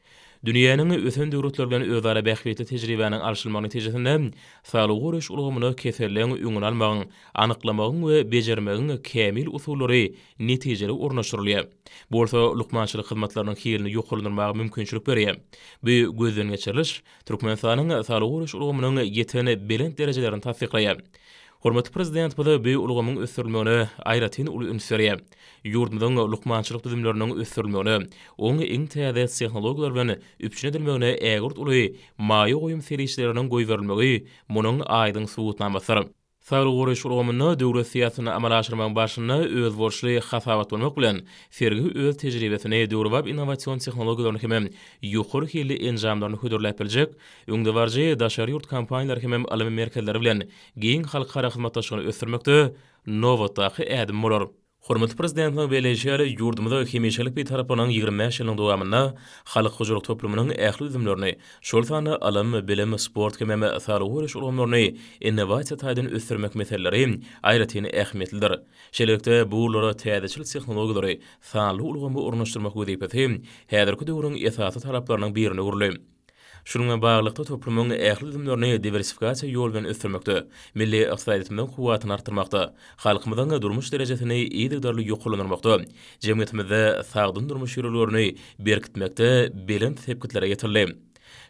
Dünýäniň ösen döwletleri bilen özara bähbitli tejribäniň alşylmagy netijesinde saglygy goraýyş ulgamyna keselleň öňüni almagyň, anyklamagyň we bejermegiň kämil usullary netijeli ornaşdyrylýar. Bu bolsa lukmançylyk hyzmatlarynyň hilini ýokarlandyrmaga mümkinçilik berýär. Bu gözden geçiriliş Türkmenistanyň saglygy goraýyş ulgamynyň ýeten belent derejelerini tassyklaýar. Hormatly Prezidentimiz bu ulgamyň ösdürilmegine aýratyn uly üns berýär. Ýurdumyzyň lukmançylyk düzümleriniň ösdürilmegine, onuň iň täze tehnologiýalar bilen üpjün edilmegine ägirt uly maýa goýum serişdeleriniň goýberilmegi munuň aýdyň subutnamasydyr. Saglygy goraýyş ulgamynda döwlet syýasatyny amala aşyrmagyň barşynda özboluşly hasabatlanmak bilen, sergi öz tejribesini, döwrebap innowasion tehnologiýalaryny hemem ýokary hilli enjamlaryny hödürläp biljek öňdebaryjy daşary ýurt kompaniýalary hemem ylmy merkezleri bilen giň halkara hyzmatdaşlygyny ösdürmekde nobatdaky ädim bolar. Hormatly Prezidentimiziň belleýşi ýaly, ýurdumyzda hemişelik Bitaraplygynyň ýigrimi bäş ýylynyň dowamynda halk hojalyk toplumynyň ähli düzümlerini, şol sanda ylym, bilim, sport hemem saglygy goraýyş ulgamlaryny innowasiýa taýdan ösdürmek meseleleri aýratyn ähmiýetlidir. Şeýlelikde, bu ugurlara täzeçil tehnologiýalary, sanly ulgamy ornaşdyrmak wezipesi häzirki döwrüň esasy talaplarynyň birine öwrüldi. Şunuňa baglylykda, toplumyň ähli düzümlerini diwersifikasiýa ýoly bilen ösdürmekde, milli ykdysadyýetimiziň kuwwatyny artdyrmakda, halkymyzyň durmuş derejesini yzygiderli ýokarlandyrmakda, jemgyýetimizde sagdyn durmuş ýörelgelerini berkitmekde belent sepgitlere ýetildi.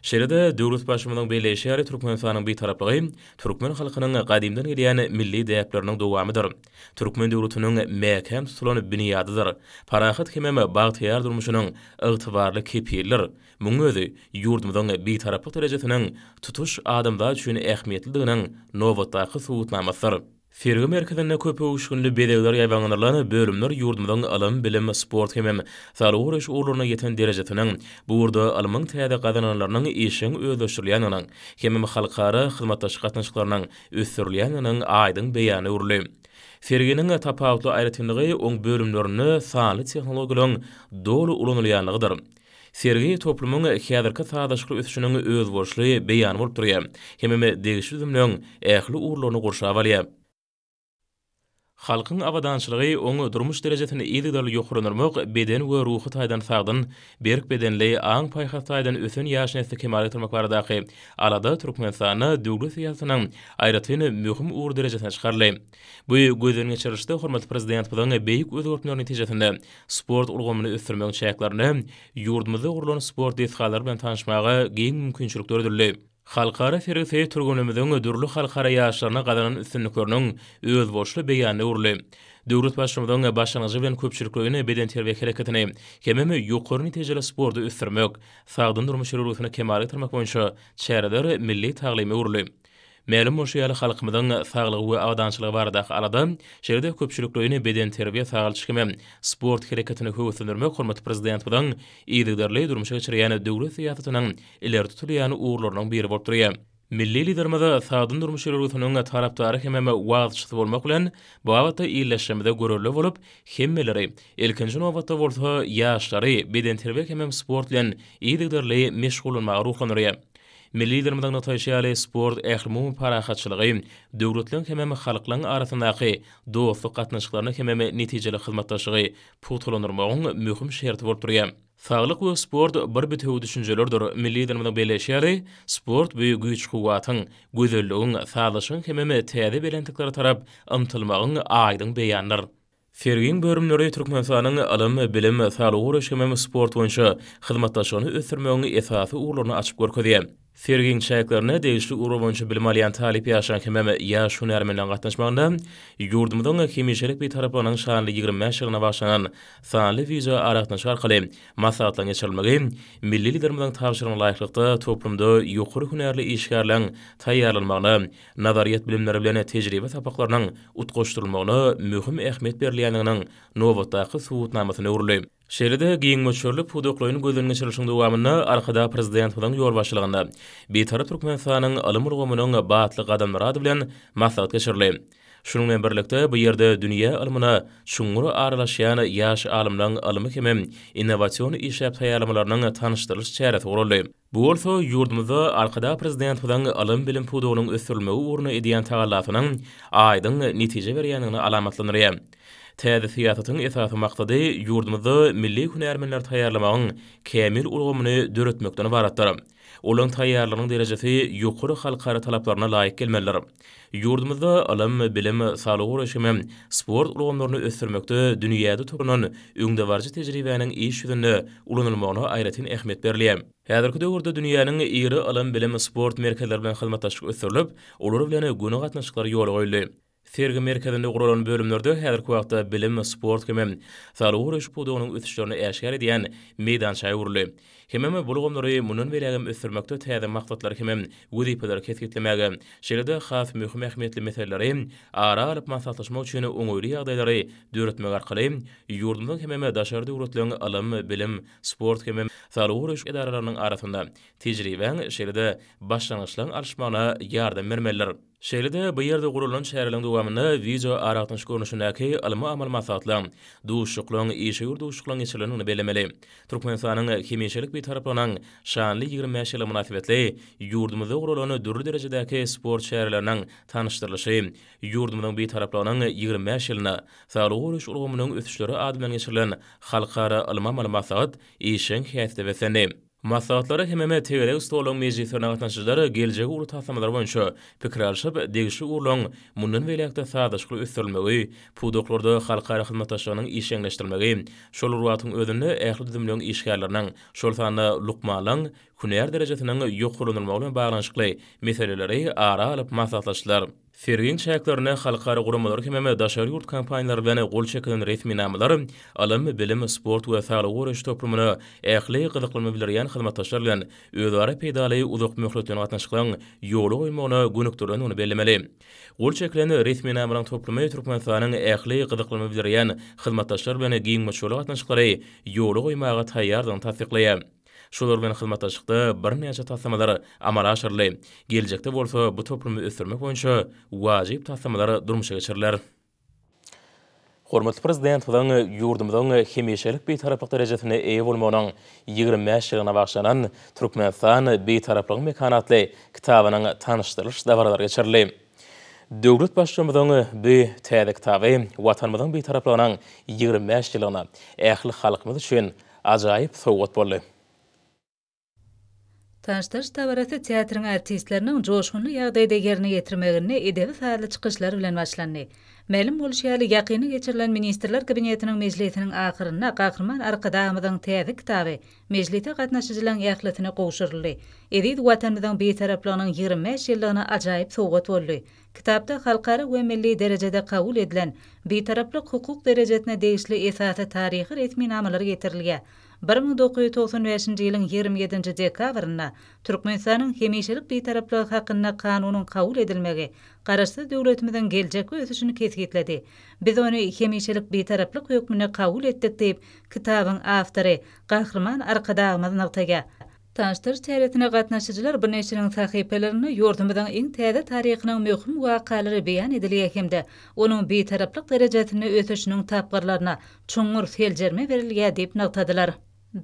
Şeýle-de, döwletbaşymyzyň belleýşi ýaly, Türkmenistanyň Bitaraplygy türkmen halkynyň gadymdan gelýän milli däpleriniň dowamydyr, türkmen döwletiniň mäkäm tutulan binýadydyr, parahat hemem bagtyýar durmuşynyň ygtybarly kepilidir. Munuň özi ýurdumyzyň Bitaraplyk derejesiniň tutuş adamzat üçin ähmiýetlidiginiň nobatdaky subutnamasydyr. Sergi merkezinde köp öwüşginli bezegler ýaýbaňlanylan bölümler ýurdumyzyň ylym, bilim, sport hemem saglygy goraýyş ugurlaryna ýeten derejesiniň, bu ugurda ylmyň täze gazananlarynyň işjeň özleşdirilýändiginiň hemem halkara hyzmatdaşlyk gatnaşyklarynyň ösdürilýändiginiň aýdyň beýanyna öwrüldi. Serginiň tapawutly aýratynlygy oň bölümlerinde sanly tehnologiýalaryň doly ulanylýanlygydyr. Sergi toplumyň häzirki sazlaşykly ösüşiniň özboluşly beýany bolup durýar, hemem degişli düzümleň ähli ugurlaryny gurşap alýar. Halkyň abadançylygy, oň durmuş derejesini yzygiderli ýokarlandyrmak, beden we ruhy taýdan sagdyn, berk bedenli, aň-paýhas taýdan ösen ýaş nesli kemala getirmek baradaky alada Türkmenistanda döwlet syýasatynyň aýratyn möhüm ugur derejesine çykaryldy. Bu gözden geçirilişde hormatly Prezidentimiziň beýik özgertmeleri netijesinde sport ulgamyny ösdürmegiň çäklerinde ýurdumyzda gurlan sport desgalary bilen tanyşmaga giň mümkinçilik döredildi. Halkara sergisi türgenimiziň dürli halkara ýaryşlarynda gazanan üstünlikleriniň özboluşly beýanyna öwrüldi. Döwlet Baştutanynyň başlangyjy bilen köpçülikleýin bedenterbiýe hereketini hemem ýokary netijeli sporty ösdürmek, sagdyn durmuş ýörelgesini kemala getirmek boýunça çäreler milli taglyma öwrüldi. Mälim bolşy ýaly, halkymyzyň saglygy we abadançylygy baradaky alada, şeýle-de köpçülikleýin bedenterbiýe-sagalçyk hem-ä sport hereketini höweslendirmek hormatly Prezidentimiziň yzygiderli durmuşa geçirýän döwlet syýasatynyň ileri tutulýan ugurlarynyň biri bolup durýar. Milli Liderimiz sagdyn durmuş ýörelgesiniň tarapdary hem-ä wagzçysy bolmak bilen, bu babatda illeşjemize görelde bolup, hemmeleri, ilkinji nobatda bolsa, ýaşlary bedenterbiýe hem-ä sport bilen yzygiderli meşgullanmaga ruhlandyrýar. Milli Liderimiziň nygtaýşy ýaly, sport ählumumy parahatçylygy, döwletleriň hemem halklaryň arasyndaky dostluk gatnaşyklaryny hemem netijeli hyzmatdaşlygy pugtalandyrmagyň möhüm şerti bolup durýar. Saglyk we sport bir bitewi düşünjelerdir, milli Liderimiziň belleýşi ýaly, sport bu güýç-kuwwatyň, gözelligiň, sazlaşygyň hemem täze belentliklere tarap ymtylmagyň aýdyň beýanydyr. Sergiň bölümleri Türkmenistanyň ylym, bilim, saglygy goraýyş hemem sport boýunça hyzmatdaşlygyny ösdürmegiň esasy ugurlaryny açyp görkezýär. Sergiň çäklerine degişli ugur boýunça bilim alýan talyp ýaşlaryň hemem ýaş hünärmenleriň gatnaşmagynda ýurdumyzyň hemişelik Bitaraplygynyň şanly ýigrimi bäş ýyllygyna bagyşlanan sanly wideoaragatnaşyk arkaly maslahatlaryň geçirilmegi milli Liderimiziň tabşyrygyna laýyklykda toplumda ýokary hünärli işgärleriň taýýarlanmagyna nazaryýet bilimleri bilen tejribe sapaklarynyň utgaşdyrylmagyna möhüm ähmiýet berilýändiginiň nobatdaky subutnamasyna öwrüldi. Şeýle-de, giň möçberli pudaklaýyn gözden geçirilişiň dowamynda Arkadag Prezidentimiziň ýolbaşçylygynda Bitarap Türkmenistanyň ylym ulgamynyň batly gadamlary ady bilen maslahat geçirildi. Şunuň bilen birlikde, bu ýerde dünýä ylmyna çuňňur aralaşýan ýaş alymlaryň ylmy hem-ä innowasion işläp taýýarlamalarynyň tanyşdyrylyş çäresi guraldy. Bu bolsa ýurdumyzda Arkadag Prezidentimiziň ylym-bilim pudagynyň ösdürilmegi ugrunda edýän tagallasynyň aýdyň netije berýändigini alamatlandyrýar. Täze syýasatyň esasy maksady ýurdumyzda milli hünärmenleri taýýarlamagyň kämil ulgamyny döretmekden ybaratdyr. Olaryň taýýarlygynyň derejesi ýokary halkara talaplaryna laýyk gelmelidir. Ýurdumyzda ylym, bilim, saglygy goraýyş hem sport ulgamlaryny ösdürmekde dünýäde toplan öňdebaryjy tejribäniň iş ýüzünde ulanylmagyna aýratyn ähmiýet berilýär. Häzirki döwürde dünýäniň iri ylym-bilim, sport merkezleri bilen hyzmatdaşlyk ösdürilip, olar bilen göni gatnaşyklar ýola goýuldy. Sergi merkezinde guralan bölümlerde häzirki wagtda bilim, sport hem saglygy goraýyş pudagynyň ösüşlerini äşgär edýän meýdança öwrüldi. Hemem bu ulgamlary mundan beýlägem ösdürmekde täze maksatlary hemem wezipeleri kesgitlemäge, şeýle-de has möhüm ähmiýetli meseleleri ara alyp maslahatlaşmak üçin oňaýly ýagdaýlary döretmek arkaly ýurdumyzyň hemem daşary döwletleriň ylym, bilim, sport hemem saglygy goraýyş edaralarynyň arasynda tejribäň, şeýle-de başlangyçlaryň alyşmagyna ýardam bermelidir. Şeýle-de, bu ýerde guralan çäreleriň dowamynda wideoaragatnaşyk görnüşindäki ylmy-amaly maslahatlaryň, duşuşyklaryň, işewür duşuşyklaryň geçirilendigini bellemeli. Türkmenistanyň hemişelik Bitaraplygynyň şanly ýigrimi bäş ýyly mynasybetli ýurdumyzda guralan dürli derejedäki sport çäreleriniň tanyşdyrylyşy, ýurdumyzyň Bitaraplygynyň ýigrimi bäş ýylyna, saglygy goraýyş ulgamynyň ösüşleri ady bilen geçirilen halkara ylmy-amaly maslahat işjeň häsiýete beslendi. Maslahatlara hemem tegelek stoluň mejlislerine gatnaşyjylar geljegi uly taslamalar boýunça pikir alşyp, degişli ugurlaryň mundan beýläk-de sazlaşykly ösdürilmegi, pudaklarda halkara hyzmatdaşlygynyň işjeňleşdirilmegi, şol bir wagtyň özünde ähli düzümleriň işgärleriniň, şol sanda lukmanlaryň hünär derejesiniň ýokarlandyrylmagy bilen baglanyşykly meseleleri ara alyp maslahatlaşdylar. Serginiň çäklerinde halkara guramalar hemem daşary ýurt kompaniýalary bilen gol çekilen resminamalar ylym, bilim, sport we saglygy goraýyş toplumyna ähli gyzyklanma bildirýän hyzmatdaşlar bilen özara peýdaly uzakmöhletleýin gatnaşyklaryň ýola goýulmagyna gönükdirilendigini bellemeli. Gol çekilen resminamalaryň toplumy Türkmenistanyň ähli gyzyklanma bildirýän hyzmatdaşlar bilen giňmöçberli gatnaşyklary ýola goýmaga taýýardygyny tassyklaýar. Şular bilen hyzmatdaşlykda birnäçe taslamalar amala aşyryldy. Geljekde bolsa bu toplumy ösdürmek boýunça wajyp taslamalar durmuşa geçiriler. Hormatly Prezidentimiziň ýurdumyzyň hemişelik Bitaraplyk derejesine eýe bolmagynyň ýigrimi bäş ýyllygyna bagyşlanan Türkmenistan, Bitaraplygyň mekany atly kitabynyň tanyşdyrylyş dabaralary geçirildi. Döwlet Baştutanymyzyň bu täze kitaby Watanymyzyň Bitaraplygynyň ýigrimi bäş ýyllygyna, ähli halkymyz üçin ajaýyp sowgat boldy. Taşdaş dabarasy teatryň artistleriniň joşgunly ýagdaýda ýerine ýetirmeginde edebi-sazly çykyşlar bilen başlandy. Mälim bolşy ýaly, ýakynda geçirilen Ministrler Kabinetiniň mejlisiniň ahyrynda Gahryman Arkadagymyzyň täze kitaby Mejlise gatnaşyjylaryň ählisine gowşuryldy. Eziz Watanymyzyň Bitaraplygynyň ýigrimi bäş ýyllygyna ajaýyp sowgat boldy. Kitapda halkara we milli derejede kabul edilen Bitaraplyk hukuk derejesine degişli esasy taryhy resminamalar getirilýär. Bir müň dokuz ýüz togsan bäşinji ýylyň ýigrimi ýedinji dekabrynda Türkmenistanyň Hemişelik Bitaraplygy hakynda Kanunyň kabul edilmegi Garaşsyz döwletimiziň geljekki ösüşini kesgitledi. Biz ony Hemişelik Bitaraplyk hökmünde kabul etdik diýip, Kitabyň awtory, Gahryman Arkadagymyz nygtaýar. Tanyşdyryş çäresine gatnaşyjylar bu neşiriň sahypalarynda ýurdumyzyň iň täze taryhynyň möhüm wakalary beýan edilýär hem-de onuň bitaraplyk derejesinde ösüşiniň tapgyrlaryna çuňňur seljerme berilýär diýip nygtadylar.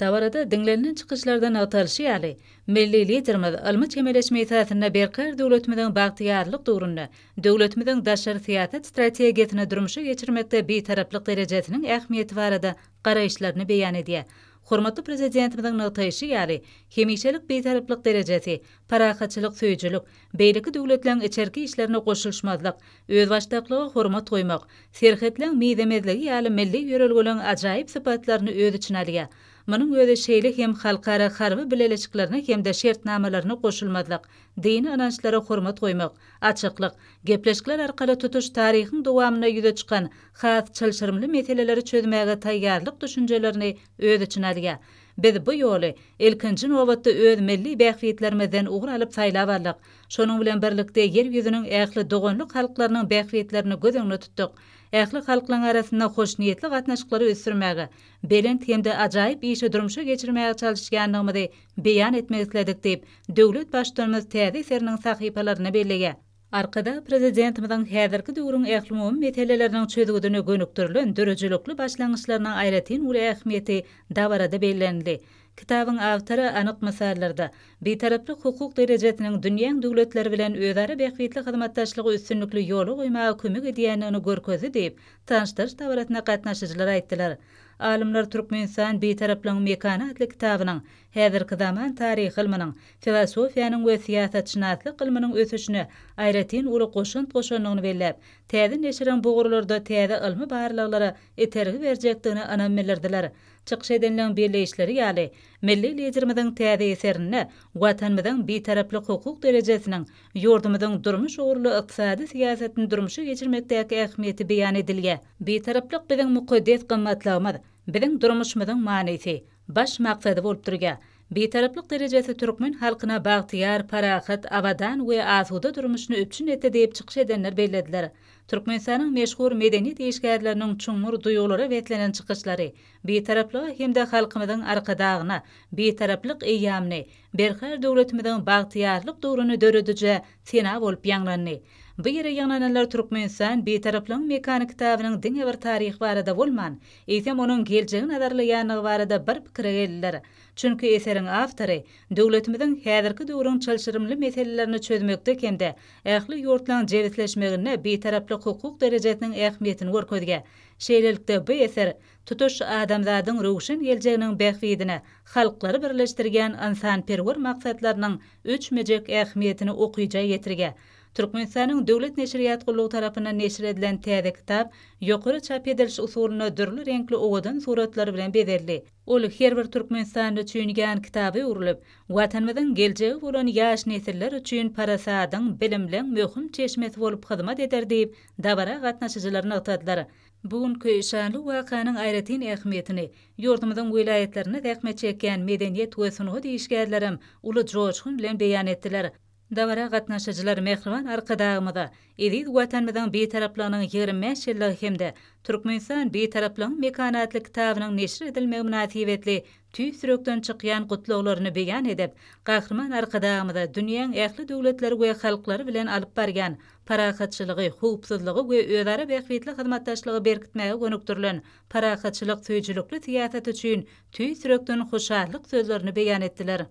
Dabarada diňlenilen çykyşlarda nygtalyşy ýaly, milli Liderimiz ylmy çemeleşme esasynda berkarar döwletimiziň bagtyýarlyk döwründe Döwletimiziň daşary syýasat strategiýasyny durmuşa geçirmekde Bitaraplyk derejesiniň ähmiýeti barada garaýyşlaryny beýan edýär. Hormatly Prezidentimiziň nygtaýşy ýaly, hemişelik Bitaraplyk derejesi, parahatçylyk söýüjilik, beýleki döwletleriň içerki işlerine goşulyşmazlyk, özbaşdaklyga hormat goýmak, serhetleň mizemezligi ýaly milli ýörelgeleriň ajaýyp sypatlaryny öz içine alýar. Munuň özi şeýle hem halkara harby bileleşiklerine hem-de şertnamalaryna goşulmazlyk, Dini ynançlara hormat goýmak, açyklyk, gepleşikler arkaly tutuş taryhyň dowamynda ýüze çykan has çylşyrymly meseleleri çözmäge taýýarlyk düşünjelerini öz içine alýar. Biz bu ýoly, ilkinji nobatda, öz milli bähbitlerimizden ugur alyp saýlap aldyk. Şonuň bilen birlikde, Ýer ýüzüniň ähli doganlyk halklarynyň bähbitlerini göz öňünde tutduk. Ähli halklaryň arasynda hoşniýetli gatnaşyklary ösdürmäge, belent hem-de ajaýyp işi durmuşa geçirmäge çalyşýandygymyzy beýan etmek isledik diýip, döwlet Baştutanymyz täze eseriniň sahypalarynda belleýär. Arkadag Prezidentimiziň häzirki döwrüň ählumumy meseleleriniň çözgüdine gönükdirilen döredijilikli başlangyçlarynyň aýratyn uly ähmiýeti dabarada bellenildi. Kitabyň awtory anyk mysallarda, Bitaraplyk hukuk derejesiniň dünýäň döwletleri bilen özara bähbitli hyzmatdaşlygy üstünlikli ýola goýmaga kömek edýändigini görkezdi diýip, tanyşdyryş dabarasynda gatnaşyjylar aýtdylar. Alymlar Türkmenistan, Bitaraplygyň mekany atly kitabynyň häzirki zaman taryh ylmynyň, filosofiýanyň we syýasatşynaslyk ylmynyň ösüşine aýratyn uly goşant goşandygyny belläp, täze neşiriň bu ugurlarda täze ylmy barlaglara itergi berjekdigine ynam bildirdiler. Çykyş edenleň belleýişleri ýaly, milli Liderimiziň täze eserinde Watanymyzyň Bitaraplyk hukuk derejesiniň Ýurdumyzyň durmuş ugurly ykdysady syýasatyny durmuşa geçirmekdäki ähmiýeti beýan edilýär. Bitaraplyk biziň mukaddes gymmatlygymyz, biziň durmuşymyzyň manysy, baş maksady bolup durýar. Bitaraplyk derejesi türkmen halkyna bagtyýar, parahat, abadan we asuda durmuşyny üpjün etdi diýip çykyş edenler bellediler. Türkmenistanyň meşhur medeniýet işgärleriniň çuňňur duýgulara beslenen çykyşlary Bitaraplyga hem-de halkymyzyň Arkadagyna Bitaraplyk eýýamyny Berkarar döwletimiziň bagtyýarlyk döwrüni dörediji sena bolup ýaňlandy. Bu ýere ýygnananlar Türkmenistan Bitaraplygyň mekany kitabynyň diňe bir taryhy barada bolman, eýsem onuň geljegi nazarlaýandygy barada bir pikire geldiler. Çünki eseriň awtory döwletimiziň häzirki döwrüň çylşyrymly meselelerini çözmekde hem-de ähli ýurtlaryň jebisleşmeginde bitaraplyk hukuk derejesiniň ähmiýetini görkezýär. Şeýlelikde, bu eser tutuş adamzadyň röwşen geljeginiň bähbidine halklary birleşdirýän ynsanperwer maksatlarynyň öçmejek ähmiýetini okyja ýetirge. Türkmenistanyň Döwlet neşirýat gullugy tarapyndan neşir edilen täze kitap ýokary çap ediliş usulynda dürli reňkli owadan suratlar bilen bezeldi. Ol her bir türkmenistanly üçin ýan kitaba öwrülip, Watanymyzyň geljegi bolan ýaş nesiller üçin parasadyň, bilimleň möhüm çeşmesi bolup hyzmat eder diýip, dabara gatnaşyjylar nygtadylar. Bu günki şanly wakanyň aýratyn ähmiýetini ýurdumyzyň welaýatlarynda zähmet çekýän medeniýet we sungat işgärlerem uly joşgun bilen beýan etdiler. Dabara gatnaşyjylar mähriban Arkadagymyza, eziz Watanymyzyň Bitaraplygynyň ýigrimi bäş ýyllygy hem-de Türkmenistan, Bitaraplygyň mekany atly kitabynyň neşir edilmegi mynasybetli tüýs ýürekden çykýan gutlaglaryny beýan edip, Gahryman Arkadagymyza dünýäň ähli döwletleri we halklary bilen alyp barýan parahatçylygy, howpsuzlygy we özara bähbitli hyzmatdaşlygy berkitmäge gönükdirilen parahatçylyk söýüjilikli syýasaty üçin tüýs ýürekden hoşallyk sözlerini beýan etdiler.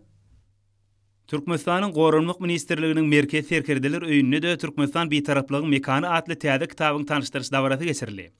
Türkmenistanyň Goranmak ministrliginiň Merkezi Serkerdeler öýünde-de Türkmenistan Bitaraplygyň mekany atly täze kitabyň tanyşdyryş dabarasy geçirildi.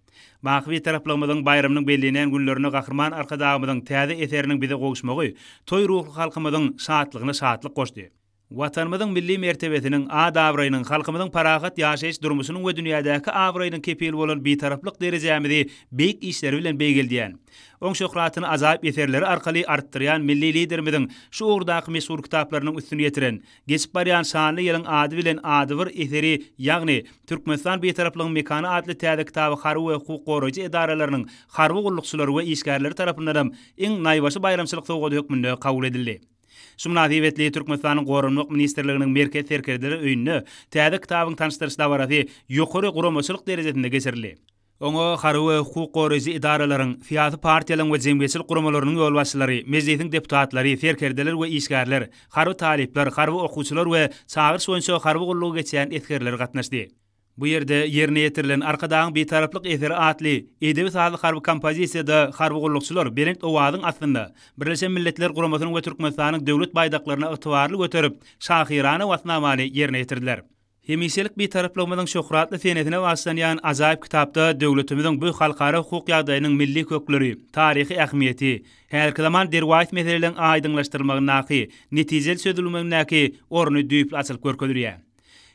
Baky Bitaraplygymyzyň baýramynyň bellenýän günlerinde Gahryman Arkadagymyzyň täze eseriniň bize gowuşmagy toý ruhly halkymyzyň şatlygyna şatlyk goşdy. Watanymyzyň milli mertebesiniň, at-abraýynyň, halkymyzyň parahat ýaşaýyş durmuşynyň we dünýädäki abraýynyň kepili bolan Bitaraplyk derejämizi beýik işleri bilen beýgeldýän, oň şöhratyny ajaýyp eserleri arkaly artdyrýan milli Liderimiziň şu ugurdaky meşhur kitaplarynyň üstüni ýetiren Geçip barýan şanly ýylyň ady bilen adybir eseri, ýagny Türkmenistan Bitaraplygyň mekany atly täze kitaby harby we hukuk goraýjy edaralarynyň harby gullukçylary we işgärleri tarapyndanam iň naýbaşy baýramçylyk sowgady hökmünde kabul edildi. Şu mynasybetli Türkmenistanyň Goranmak ministrliginiň Merkez serkerdeler öýünde täze kitabyň tanyşdyryş dabarasy ýokary guramaçylyk derejesinde geçirildi. Oňa harby we hukuk goraýjy edaralaryň, syýasy partiýalaryň we jemgyýetçilik guramalarynyň ýolbaşçylary, Mejlisiň deputatlary, serkerdeler we işgärler, harby talyplar, harby okuwçylar we çagyryş boýunça harby gullugy geçýän esgerler gatnaşdy. Bu ýerde ýerine ýetirilen Arkadagyň Bitaraplyk eseri atly edebi-sazly harby kompozisiýada harby gullukçylar belent owazyň astynda Birleşen Milletler Guramasynyň we Türkmenistanyň Döwlet baýdaklaryny ygtybarly göterip, şahyrana watnamany ýerine ýetirdiler. Hemişelik Bitaraplygymyzyň şöhratly senesine bagyşlanýan ajaýyp kitapda döwletimiziň bu halkara hukuk ýagdaýynyň milli kökleri, taryhy ähmiýeti, häzirki zaman derwaýys meseleleriň aýdyňlaşdyrylmagyndaky, netijeli çözülmegindäki orny düýpli açylyp görkezilýär.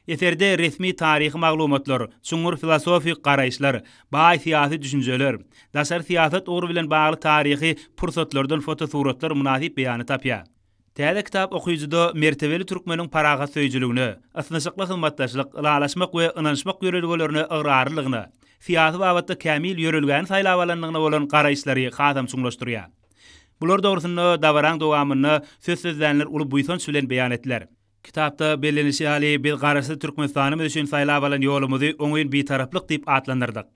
Eserde resmi taryhy maglumatlar, çuňňur filosofik garaýyşlar, baý syýasy düşünjeler, daşary syýasat ugry bilen bagly taryhy pursatlardan fotosuratlar mynasyp beýany tapýar. Täze kitap okyjyda mertebeli türkmeniň parahatsöýüjiligine, ysnyşykly hyzmatdaşlyk, ylalaşmak we ynanyşmak ýörelgelerine ygrarlylygyna, syýasy babatda kämil ýörelgäni saýlap alandygyna bolan garaýyşlary hasam çuňlaşdyrýar. Bular dogrusynda dabaraň dowamynda söz sözlänler uly buýsanç bilen beýan etdiler. Kitapda bellenilişi ýaly, biz Garaşsyz Türkmenistanymyz üçin saýlap alan ýolumyzy oňyn Bitaraplyk diýip atlandyrdyk.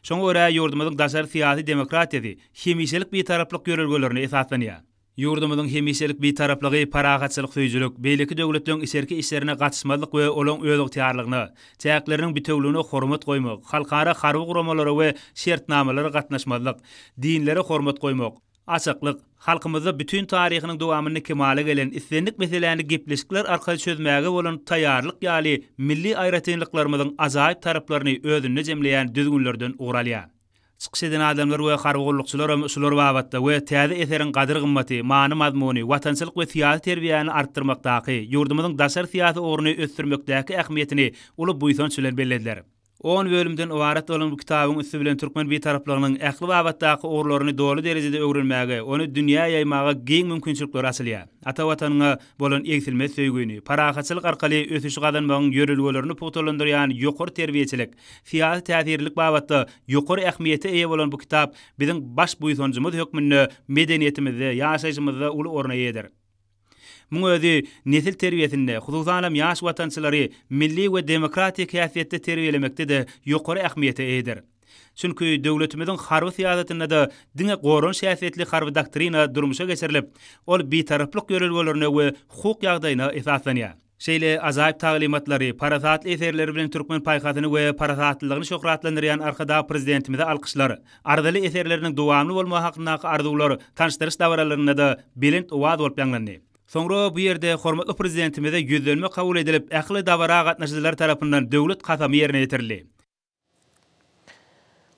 Şoňa görä, ýurdumyzyň daşary syýasy demokratiýasy hemişelik Bitaraplyk ýörelgelerine esaslanýar. Ýurdumyzyň hemişelik Bitaraplygy parahatçylyk söýüjilik, beýleki döwletleriň içerki işlerine gatyşmazlyk we olaryň özygtyýarlygyna, çäkleriniň bitewüligine hormat goýmak, halkara harby guramalara we şertnamalara gatnaşmazlyk, dinlere hormat goýmak, Açyklyk, halkymyzda bütin taryhynyň dowamynda kemala gelen islendik meseläni gepleşikler arkaly çözmäge bolan taýýarlyk ýaly milli aýratynlyklarymyzyň ajaýyp taraplaryny özünde jemleýän düzgünlerden ugur alýar. Çykyş eden adamlar we harby gullukçylaram şular babatda we täze eseriň gadyr-gymmaty, many-mazmuny, watançylyk we syýasy terbiýäni artdyrmakdaky, ýurdumyzyň daşary syýasy ugruny ösdürmekdäki ähmiýetini uly buýsanç bilen bellediler. On bölümden ybarat bolan bu kitabyň üsti bilen türkmen Bitaraplygynyň ähli babatdaky ugurlaryny doly derejede öwrenmäge, ony dünýä ýaýmaga giň mümkinçilikler açylýar. Ata Watanyňa bolan egsilmez söýgüni, parahatçylyk arkaly ösüşi gazanmagyň ýörelgelerini pugtalandyrýan ýokary terbiýeçilik, syýasy täsirlilik babatda ýokary ähmiýete eýe bolan bu kitap biziň baş buýsanjymyz hökmünde medeniýetimizde, ýaşaýşymyzda uly orna eýedir. Muň özi nesil terbiýesinde, hususanam ýaş watançylary milli we demokratik häsiýetde terbiýelemekde-de ýokary ähmiýete eýedir. Çünki döwletimiziň harby syýasatynda-da diňe goranyş häsiýetli harby doktrina durmuşa geçirilip, ol bitaraplyk ýörelgelerine we hukuk ýagdaýyna esaslanýar. Şeýle ajaýyp taglymatlary, parasatly eserleri bilen türkmen paýhasyny we parasatlylygyny şöhratlandyrýan Arkadag Prezidentimize alkyşlar, arzyly eserleriniň dowamly bolmagy hakyndaky arzuwlar tanyşdyryş dabaralarynda-da belent owaz bolup ýaňlandy. Soňra bu ýerde hormatly Prezidentimize ýüzlenme kabul edilip, ähli dabara gatnaşyjylar tarapyndan döwlet kasamy ýerine ýetirildi.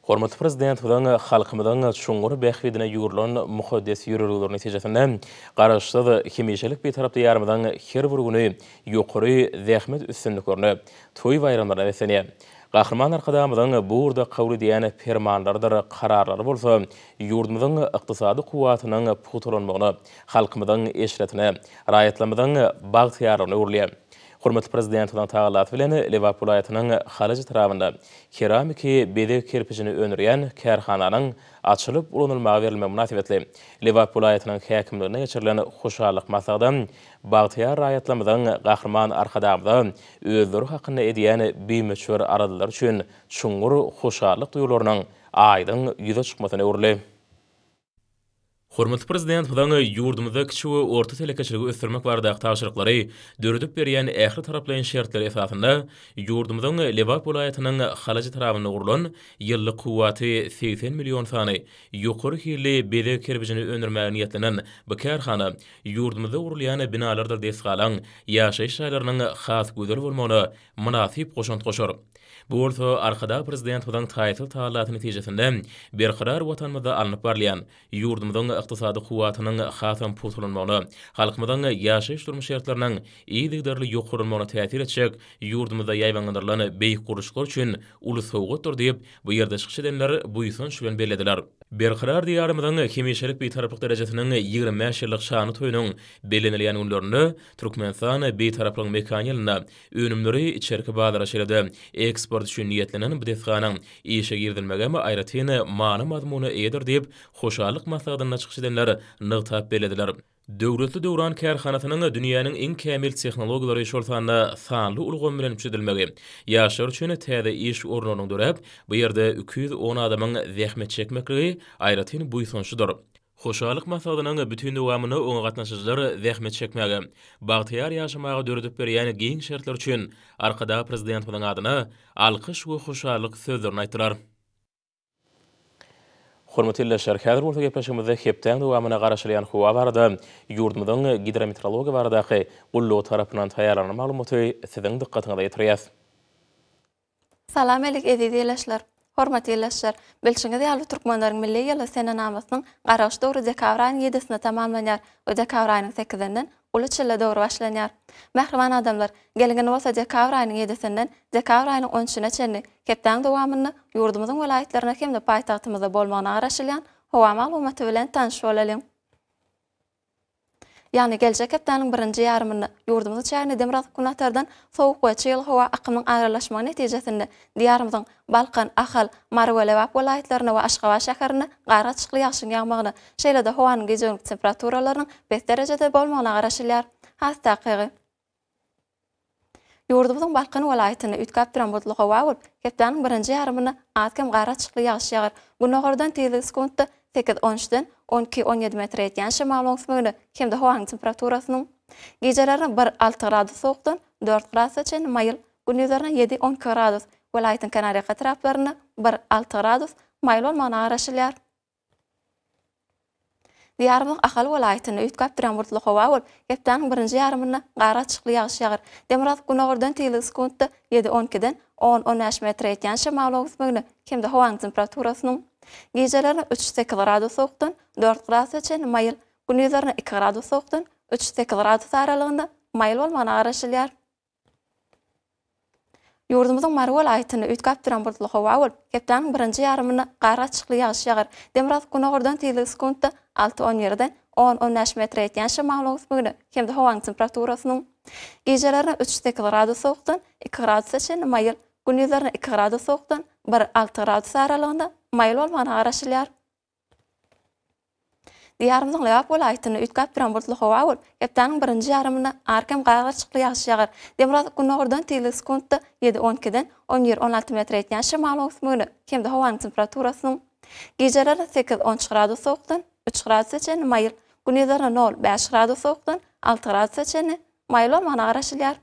Hormatly Prezidentimiziň halkymyzyň çuňňur bähbidine ýugrulan mukaddes ýörelgeleri netijesinde, Garaşsyz, hemişelik Bitarap Diýarymyzyň her bir güni ýokary zähmet üstünliklerine, toý-baýramlaryna beslenýär. Gahryman Arkadagymyzyň bu ugurda kabul edýän permanlarydyr kararlary bolsa ýurdumyzyň ykdysady kuwwatynyň pugtalanmagyna, halkymyzyň eşretine, raýatlarymyzyň bagtyýarlygyna öwrülýär. Hormatly Prezidentimiziň tagallasy bilen Lebap welaýatynyň Halaç etrabynda keramiki bezeg kerpijini öndürýän kärhananyň açylyp ulanylmaga berilmegi mynasybetli Lebap welaýatynyň häkimliginde geçirilen hoşallyk maslahada bagtyýar raýatlarymyzyň Gahryman Arkadagymyza özleri hakynda edýän bimöçber aladalary üçin çuňňur hoşallyk duýgularynyň aýdyň ýüze çykmasyna öwrüldi. Hormatly Prezidentimiziň ýurdumyzda kiçi we orta telekeçiligi ösdürmek baradaky tabşyryklary döredip berýän ähli taraplaýyn şertleri esasynda ýurdumyzyň Lebap welaýatynyň Halaç etrabynda gurlan ýyllyk kuwwaty segsen million sany ýokary hilli bezeg kerpijini öndürmäge niýetlenen bu kärhana ýurdumyzda gurulýan binalardyr desgalaň, ýaşaýyş jaýlarynyň has gözel bolmagyna mynasyp goşant goşar. Bu bolsa Arkadag Prezidentimiziň taýsyz tagallasy netijesinde berkarar Watanymyzda alnyp barylýan, ýurdumyzyň ykdysady kuwwatynyň hasam pugtalanmagyna, halkymyzyň ýaşaýyş-durmuş şertleriniň yzygiderli ýokarlanmagyna täsir etjek ýurdumyzda ýaýbaňlandyrylan beýik gurluşyklar üçin uly sowgatdyr diýip, bu ýerde çykyş edenler buýsanç bilen bellediler. Berkarar Diýarymyzyň hemişelik Bitaraplyk derejesiniň ýigrimi bäş ýyllyk şanly toýunyň bellenilýän günlerinde Türkmenistan Bitaraplygyň mekany ýylynda önümleri içerki bazara şeýle-de eksport üçin niýetlenen bu desganyň işe girizilmegi hem aýratyn many-mazmuna eýedir diýip, hoşallyk maslahatynda çykyş edenler nygtap bellediler. Döwletli döwran kärhanasynyň dünýäniň iň kämil tehnologiýalary, şol sanda sanly ulgam bilen üpjün edilmegi, ýaşlar üçin täze iş orunlarynyň döräp, bu ýerde iki ýüz on adamyň zähmet çekmekligi aýratyn buýsançlydyr. Hoşallyk maslahatynyň bütin dowamynda oňa gatnaşyjylar zähmet çekmäge, bagtyýar ýaşamaga döredip berýän giň şertler üçin Arkadag Prezidentimiziň adyna alkyş we hoşallyk sözlerini aýtdylar. Hormatly ildeşler, häzir bolsa gepleşigimizde hepdäň dowamyna garaşylýan howa barada ýurdumyzyň Gidrometeorologiýa baradaky gullugy tarapyndan taýýarlanan maglumaty siziň dykgatyňyza ýetirýäs. Salam alik eziz ilaçlar. Hormatly ilaçlar, bilşiňiz ýaly türkmenleriň milli ýyly senenamasynyň garagyş döwri dekabr aýynyň ýedisinde tamamlanýar we dekabr aýynyň sekizinden uly çille döwri başlanýar. Mähriban adamlar, geliň indi bolsa dekabr aýynyň ýedisinden dekabr aýynyň on üçüne çenli hepdäň dowamynda ýurdumyzyň welaýatlarynda hem-de paýtagtymyzda bolmagyna garaşylýan howa maglumaty bilen tanyş bolalyň. Ýagny geljek hepdäniň birinji ýarymynda ýurdumyzyň çägine demirgazyk-günbatardan sowuk we çygly howa akymynyň aralaşmagy netijesinde Diýarymyzyň Balkan, Ahal, Mary we Lebap welaýatlarynda we Aşgabat şäherinde gargaçykly ýagşyň ýagmagyna, şeýle-de howanyň gije-gündiz temperaturalarynyň pes derejede bolmagyna garaşylýar. Has takygy. Ýurdumyzyň Balkan welaýatynda üýtgäp duran bulutly howa bolup, hepdäniň birinji ýarymynda az-kem gar açykly ýagyş ýagar. Gündogardan tizligi sekuntda sekiz, on üçden on iki, on ýedi metre ýetýän şemalyň öňsmegine hem-de howanyň temperaturasynyň gijelerine bir, alty gradus sowukdan dört gradusa çenli maýyl, gündizlerine ýedi, on iki gradus, welaýatyň kenarýaka etraplarynda bir, alty gradus maýyl bolmagyna garaşylýar. Diýarymyzyň Ahal welaýatynda üýtgäp durýan bulutly howa bolup, hepdäniň birinji ýarymynda gara açykly ýagyş ýagar. Demirgazyk günordan tygly sekuntda ýedi, on ikiden on, on bäş metre ýetýän şemalyň öwüsmegine hem-de howanyň temperaturasynyň gijelerine üç, sekiz gradus sowukdan dört gradusa çenli maýyl, gündizlerine iki gradus sowukdan üç, sekiz gradus aralygynda maýyl bolmagyna garaşylýar. Ýurdumyzyň Mary welaýatynda üýtgäp duran bulutly howa bolup, hepdäniň birinji ýarymynda gar gaçyşykly ýagyş ýagar. Demirgazyk günordan tizligi sekuntda alty-on ýerden on-on bäş metre ýetýän şemalyň öwüsmegine hem-de howanyň temperaturasynyň gijelerine üç-sekiz gradus sowukdan iki gradusa çenli maýyl, gündizlerine iki gradus sowukdan bir-alty gradus aralygynda maýyl bolmagyna garaşylýar. Diýarymyzyň Lebap welaýatynda üýtgäp-duran bulutly howa bolup, hepdäniň birinji ýarymynda arkem gaýgyryşykly ýagyş ýagar. Demirgazyk Gündogardan tizligi sekuntda ýedi, on ikiden on bir, on alty metr ýetýän şemalyň öwüsmegine hem-de howanyň temperaturasynyň gijeleri sekiz, on üç gradus sowukdan üç gradusa çenli maýyl, gündizlerine nol, bäş gradus sowukdan alty gradusa çenli maýyl bolmagyna garaşylýar.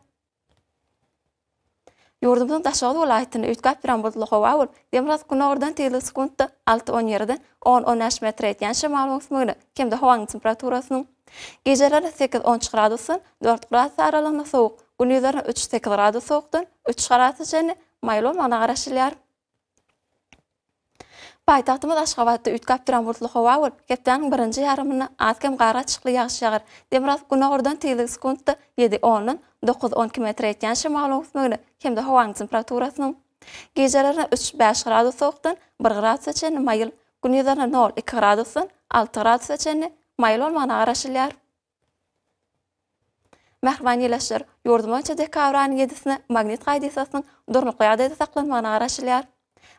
Ýurdumyzyň Daşoguz welaýatynda üýtgäp duran bulutly howa bolup, demirgazyk günordan tizligi sekuntda alty-on ýerden on-on bäş metre ýetýän şemal öwüsmegine hem-de howanyň temperaturasynyň gijeleri sekiz-on üç gradusdan dört gradus aralygynda sowuk, gündizlerine üç-sekiz gradus sowukdan üç gradus çenli maýyl bolmagyna garaşylýar. Paýtagtymyz Aşgabatda üýtgäp duran bulutly howa bolup, hepdäniň birinji ýarymynda az-kem gar gatyşykly ýagyş ýagar. Demirgazyk günordan tizligi sekuntda ýedi, ondan dokuz, on iki metre ýetýän şemalyň üsmegine hem-de howanyň temperaturasynyň gijelerine üç, bäş gradus sowukdan bir gradusa çenli maýyl, gündizlerine nol, iki gradusdan alty gradusa çenli maýyl bolmagyna garaşylýar. Mähriban ýylaçlar, ýurdumyz boýunça dekabr aýynyň ýedisine magnit hadisasynyň durnukly ýagdaýda saklanmagyna garaşylýar.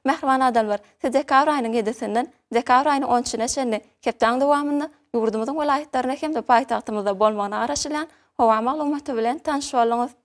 Mähriban adamlar, siz dekabr aýynyň ýedisinden dekabr aýynyň on üçüne çenli hepdäň dowamynda ýurdumyzyň welaýatlarynda hem-de paýtagtymyzda bolmagyna garaşylýan howa maglumaty bilen tanyş bolduňyz.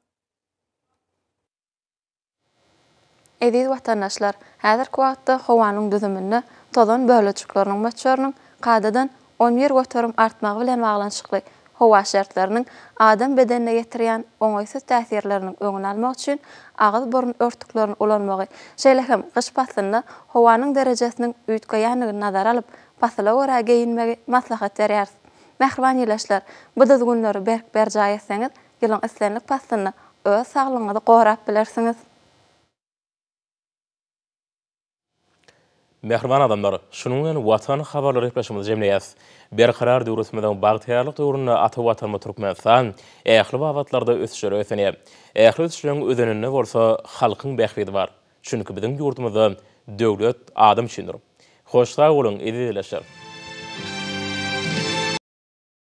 Eziz watandaşlar, häzirki wagtda howanyň düzüminde tozan bölejikleriniň möçberiniň kadadan on bir göterim artmagy bilen baglanyşykly howa şertleriniň adam bedenine ýetirýän oňaýsyz täsirleriniň öňüni almak üçin agyz-burun örtüklerini ulanmagy, şeýle hem gyş paslynda howanyň derejesiniň üýtgeýändigini nazara alyp, pasyla görä geýinmegi maslahat berýäris. Mähriban ildeşler, bu düzgünleri berk berjaý etseňiz, Ýylyň islendik paslynda öz saglygyňyzy gorap bilersiňiz. Mähriban adamlar, şunuň bilen Watan habarlary gepleşigimizi jemleýäs. Berkarar döwletimiziň bagtyýarlyk döwründe ata Watanymyz Türkmenistan ähli babatlarda ösüşlere ösenýär. Ähli ösüşleriň özeninde bolsa halkyň bähbidi bar. Çünki biziň ýurdumyzda Döwlet adam üçindir. Hoş sag boluň, eziz ildeşler!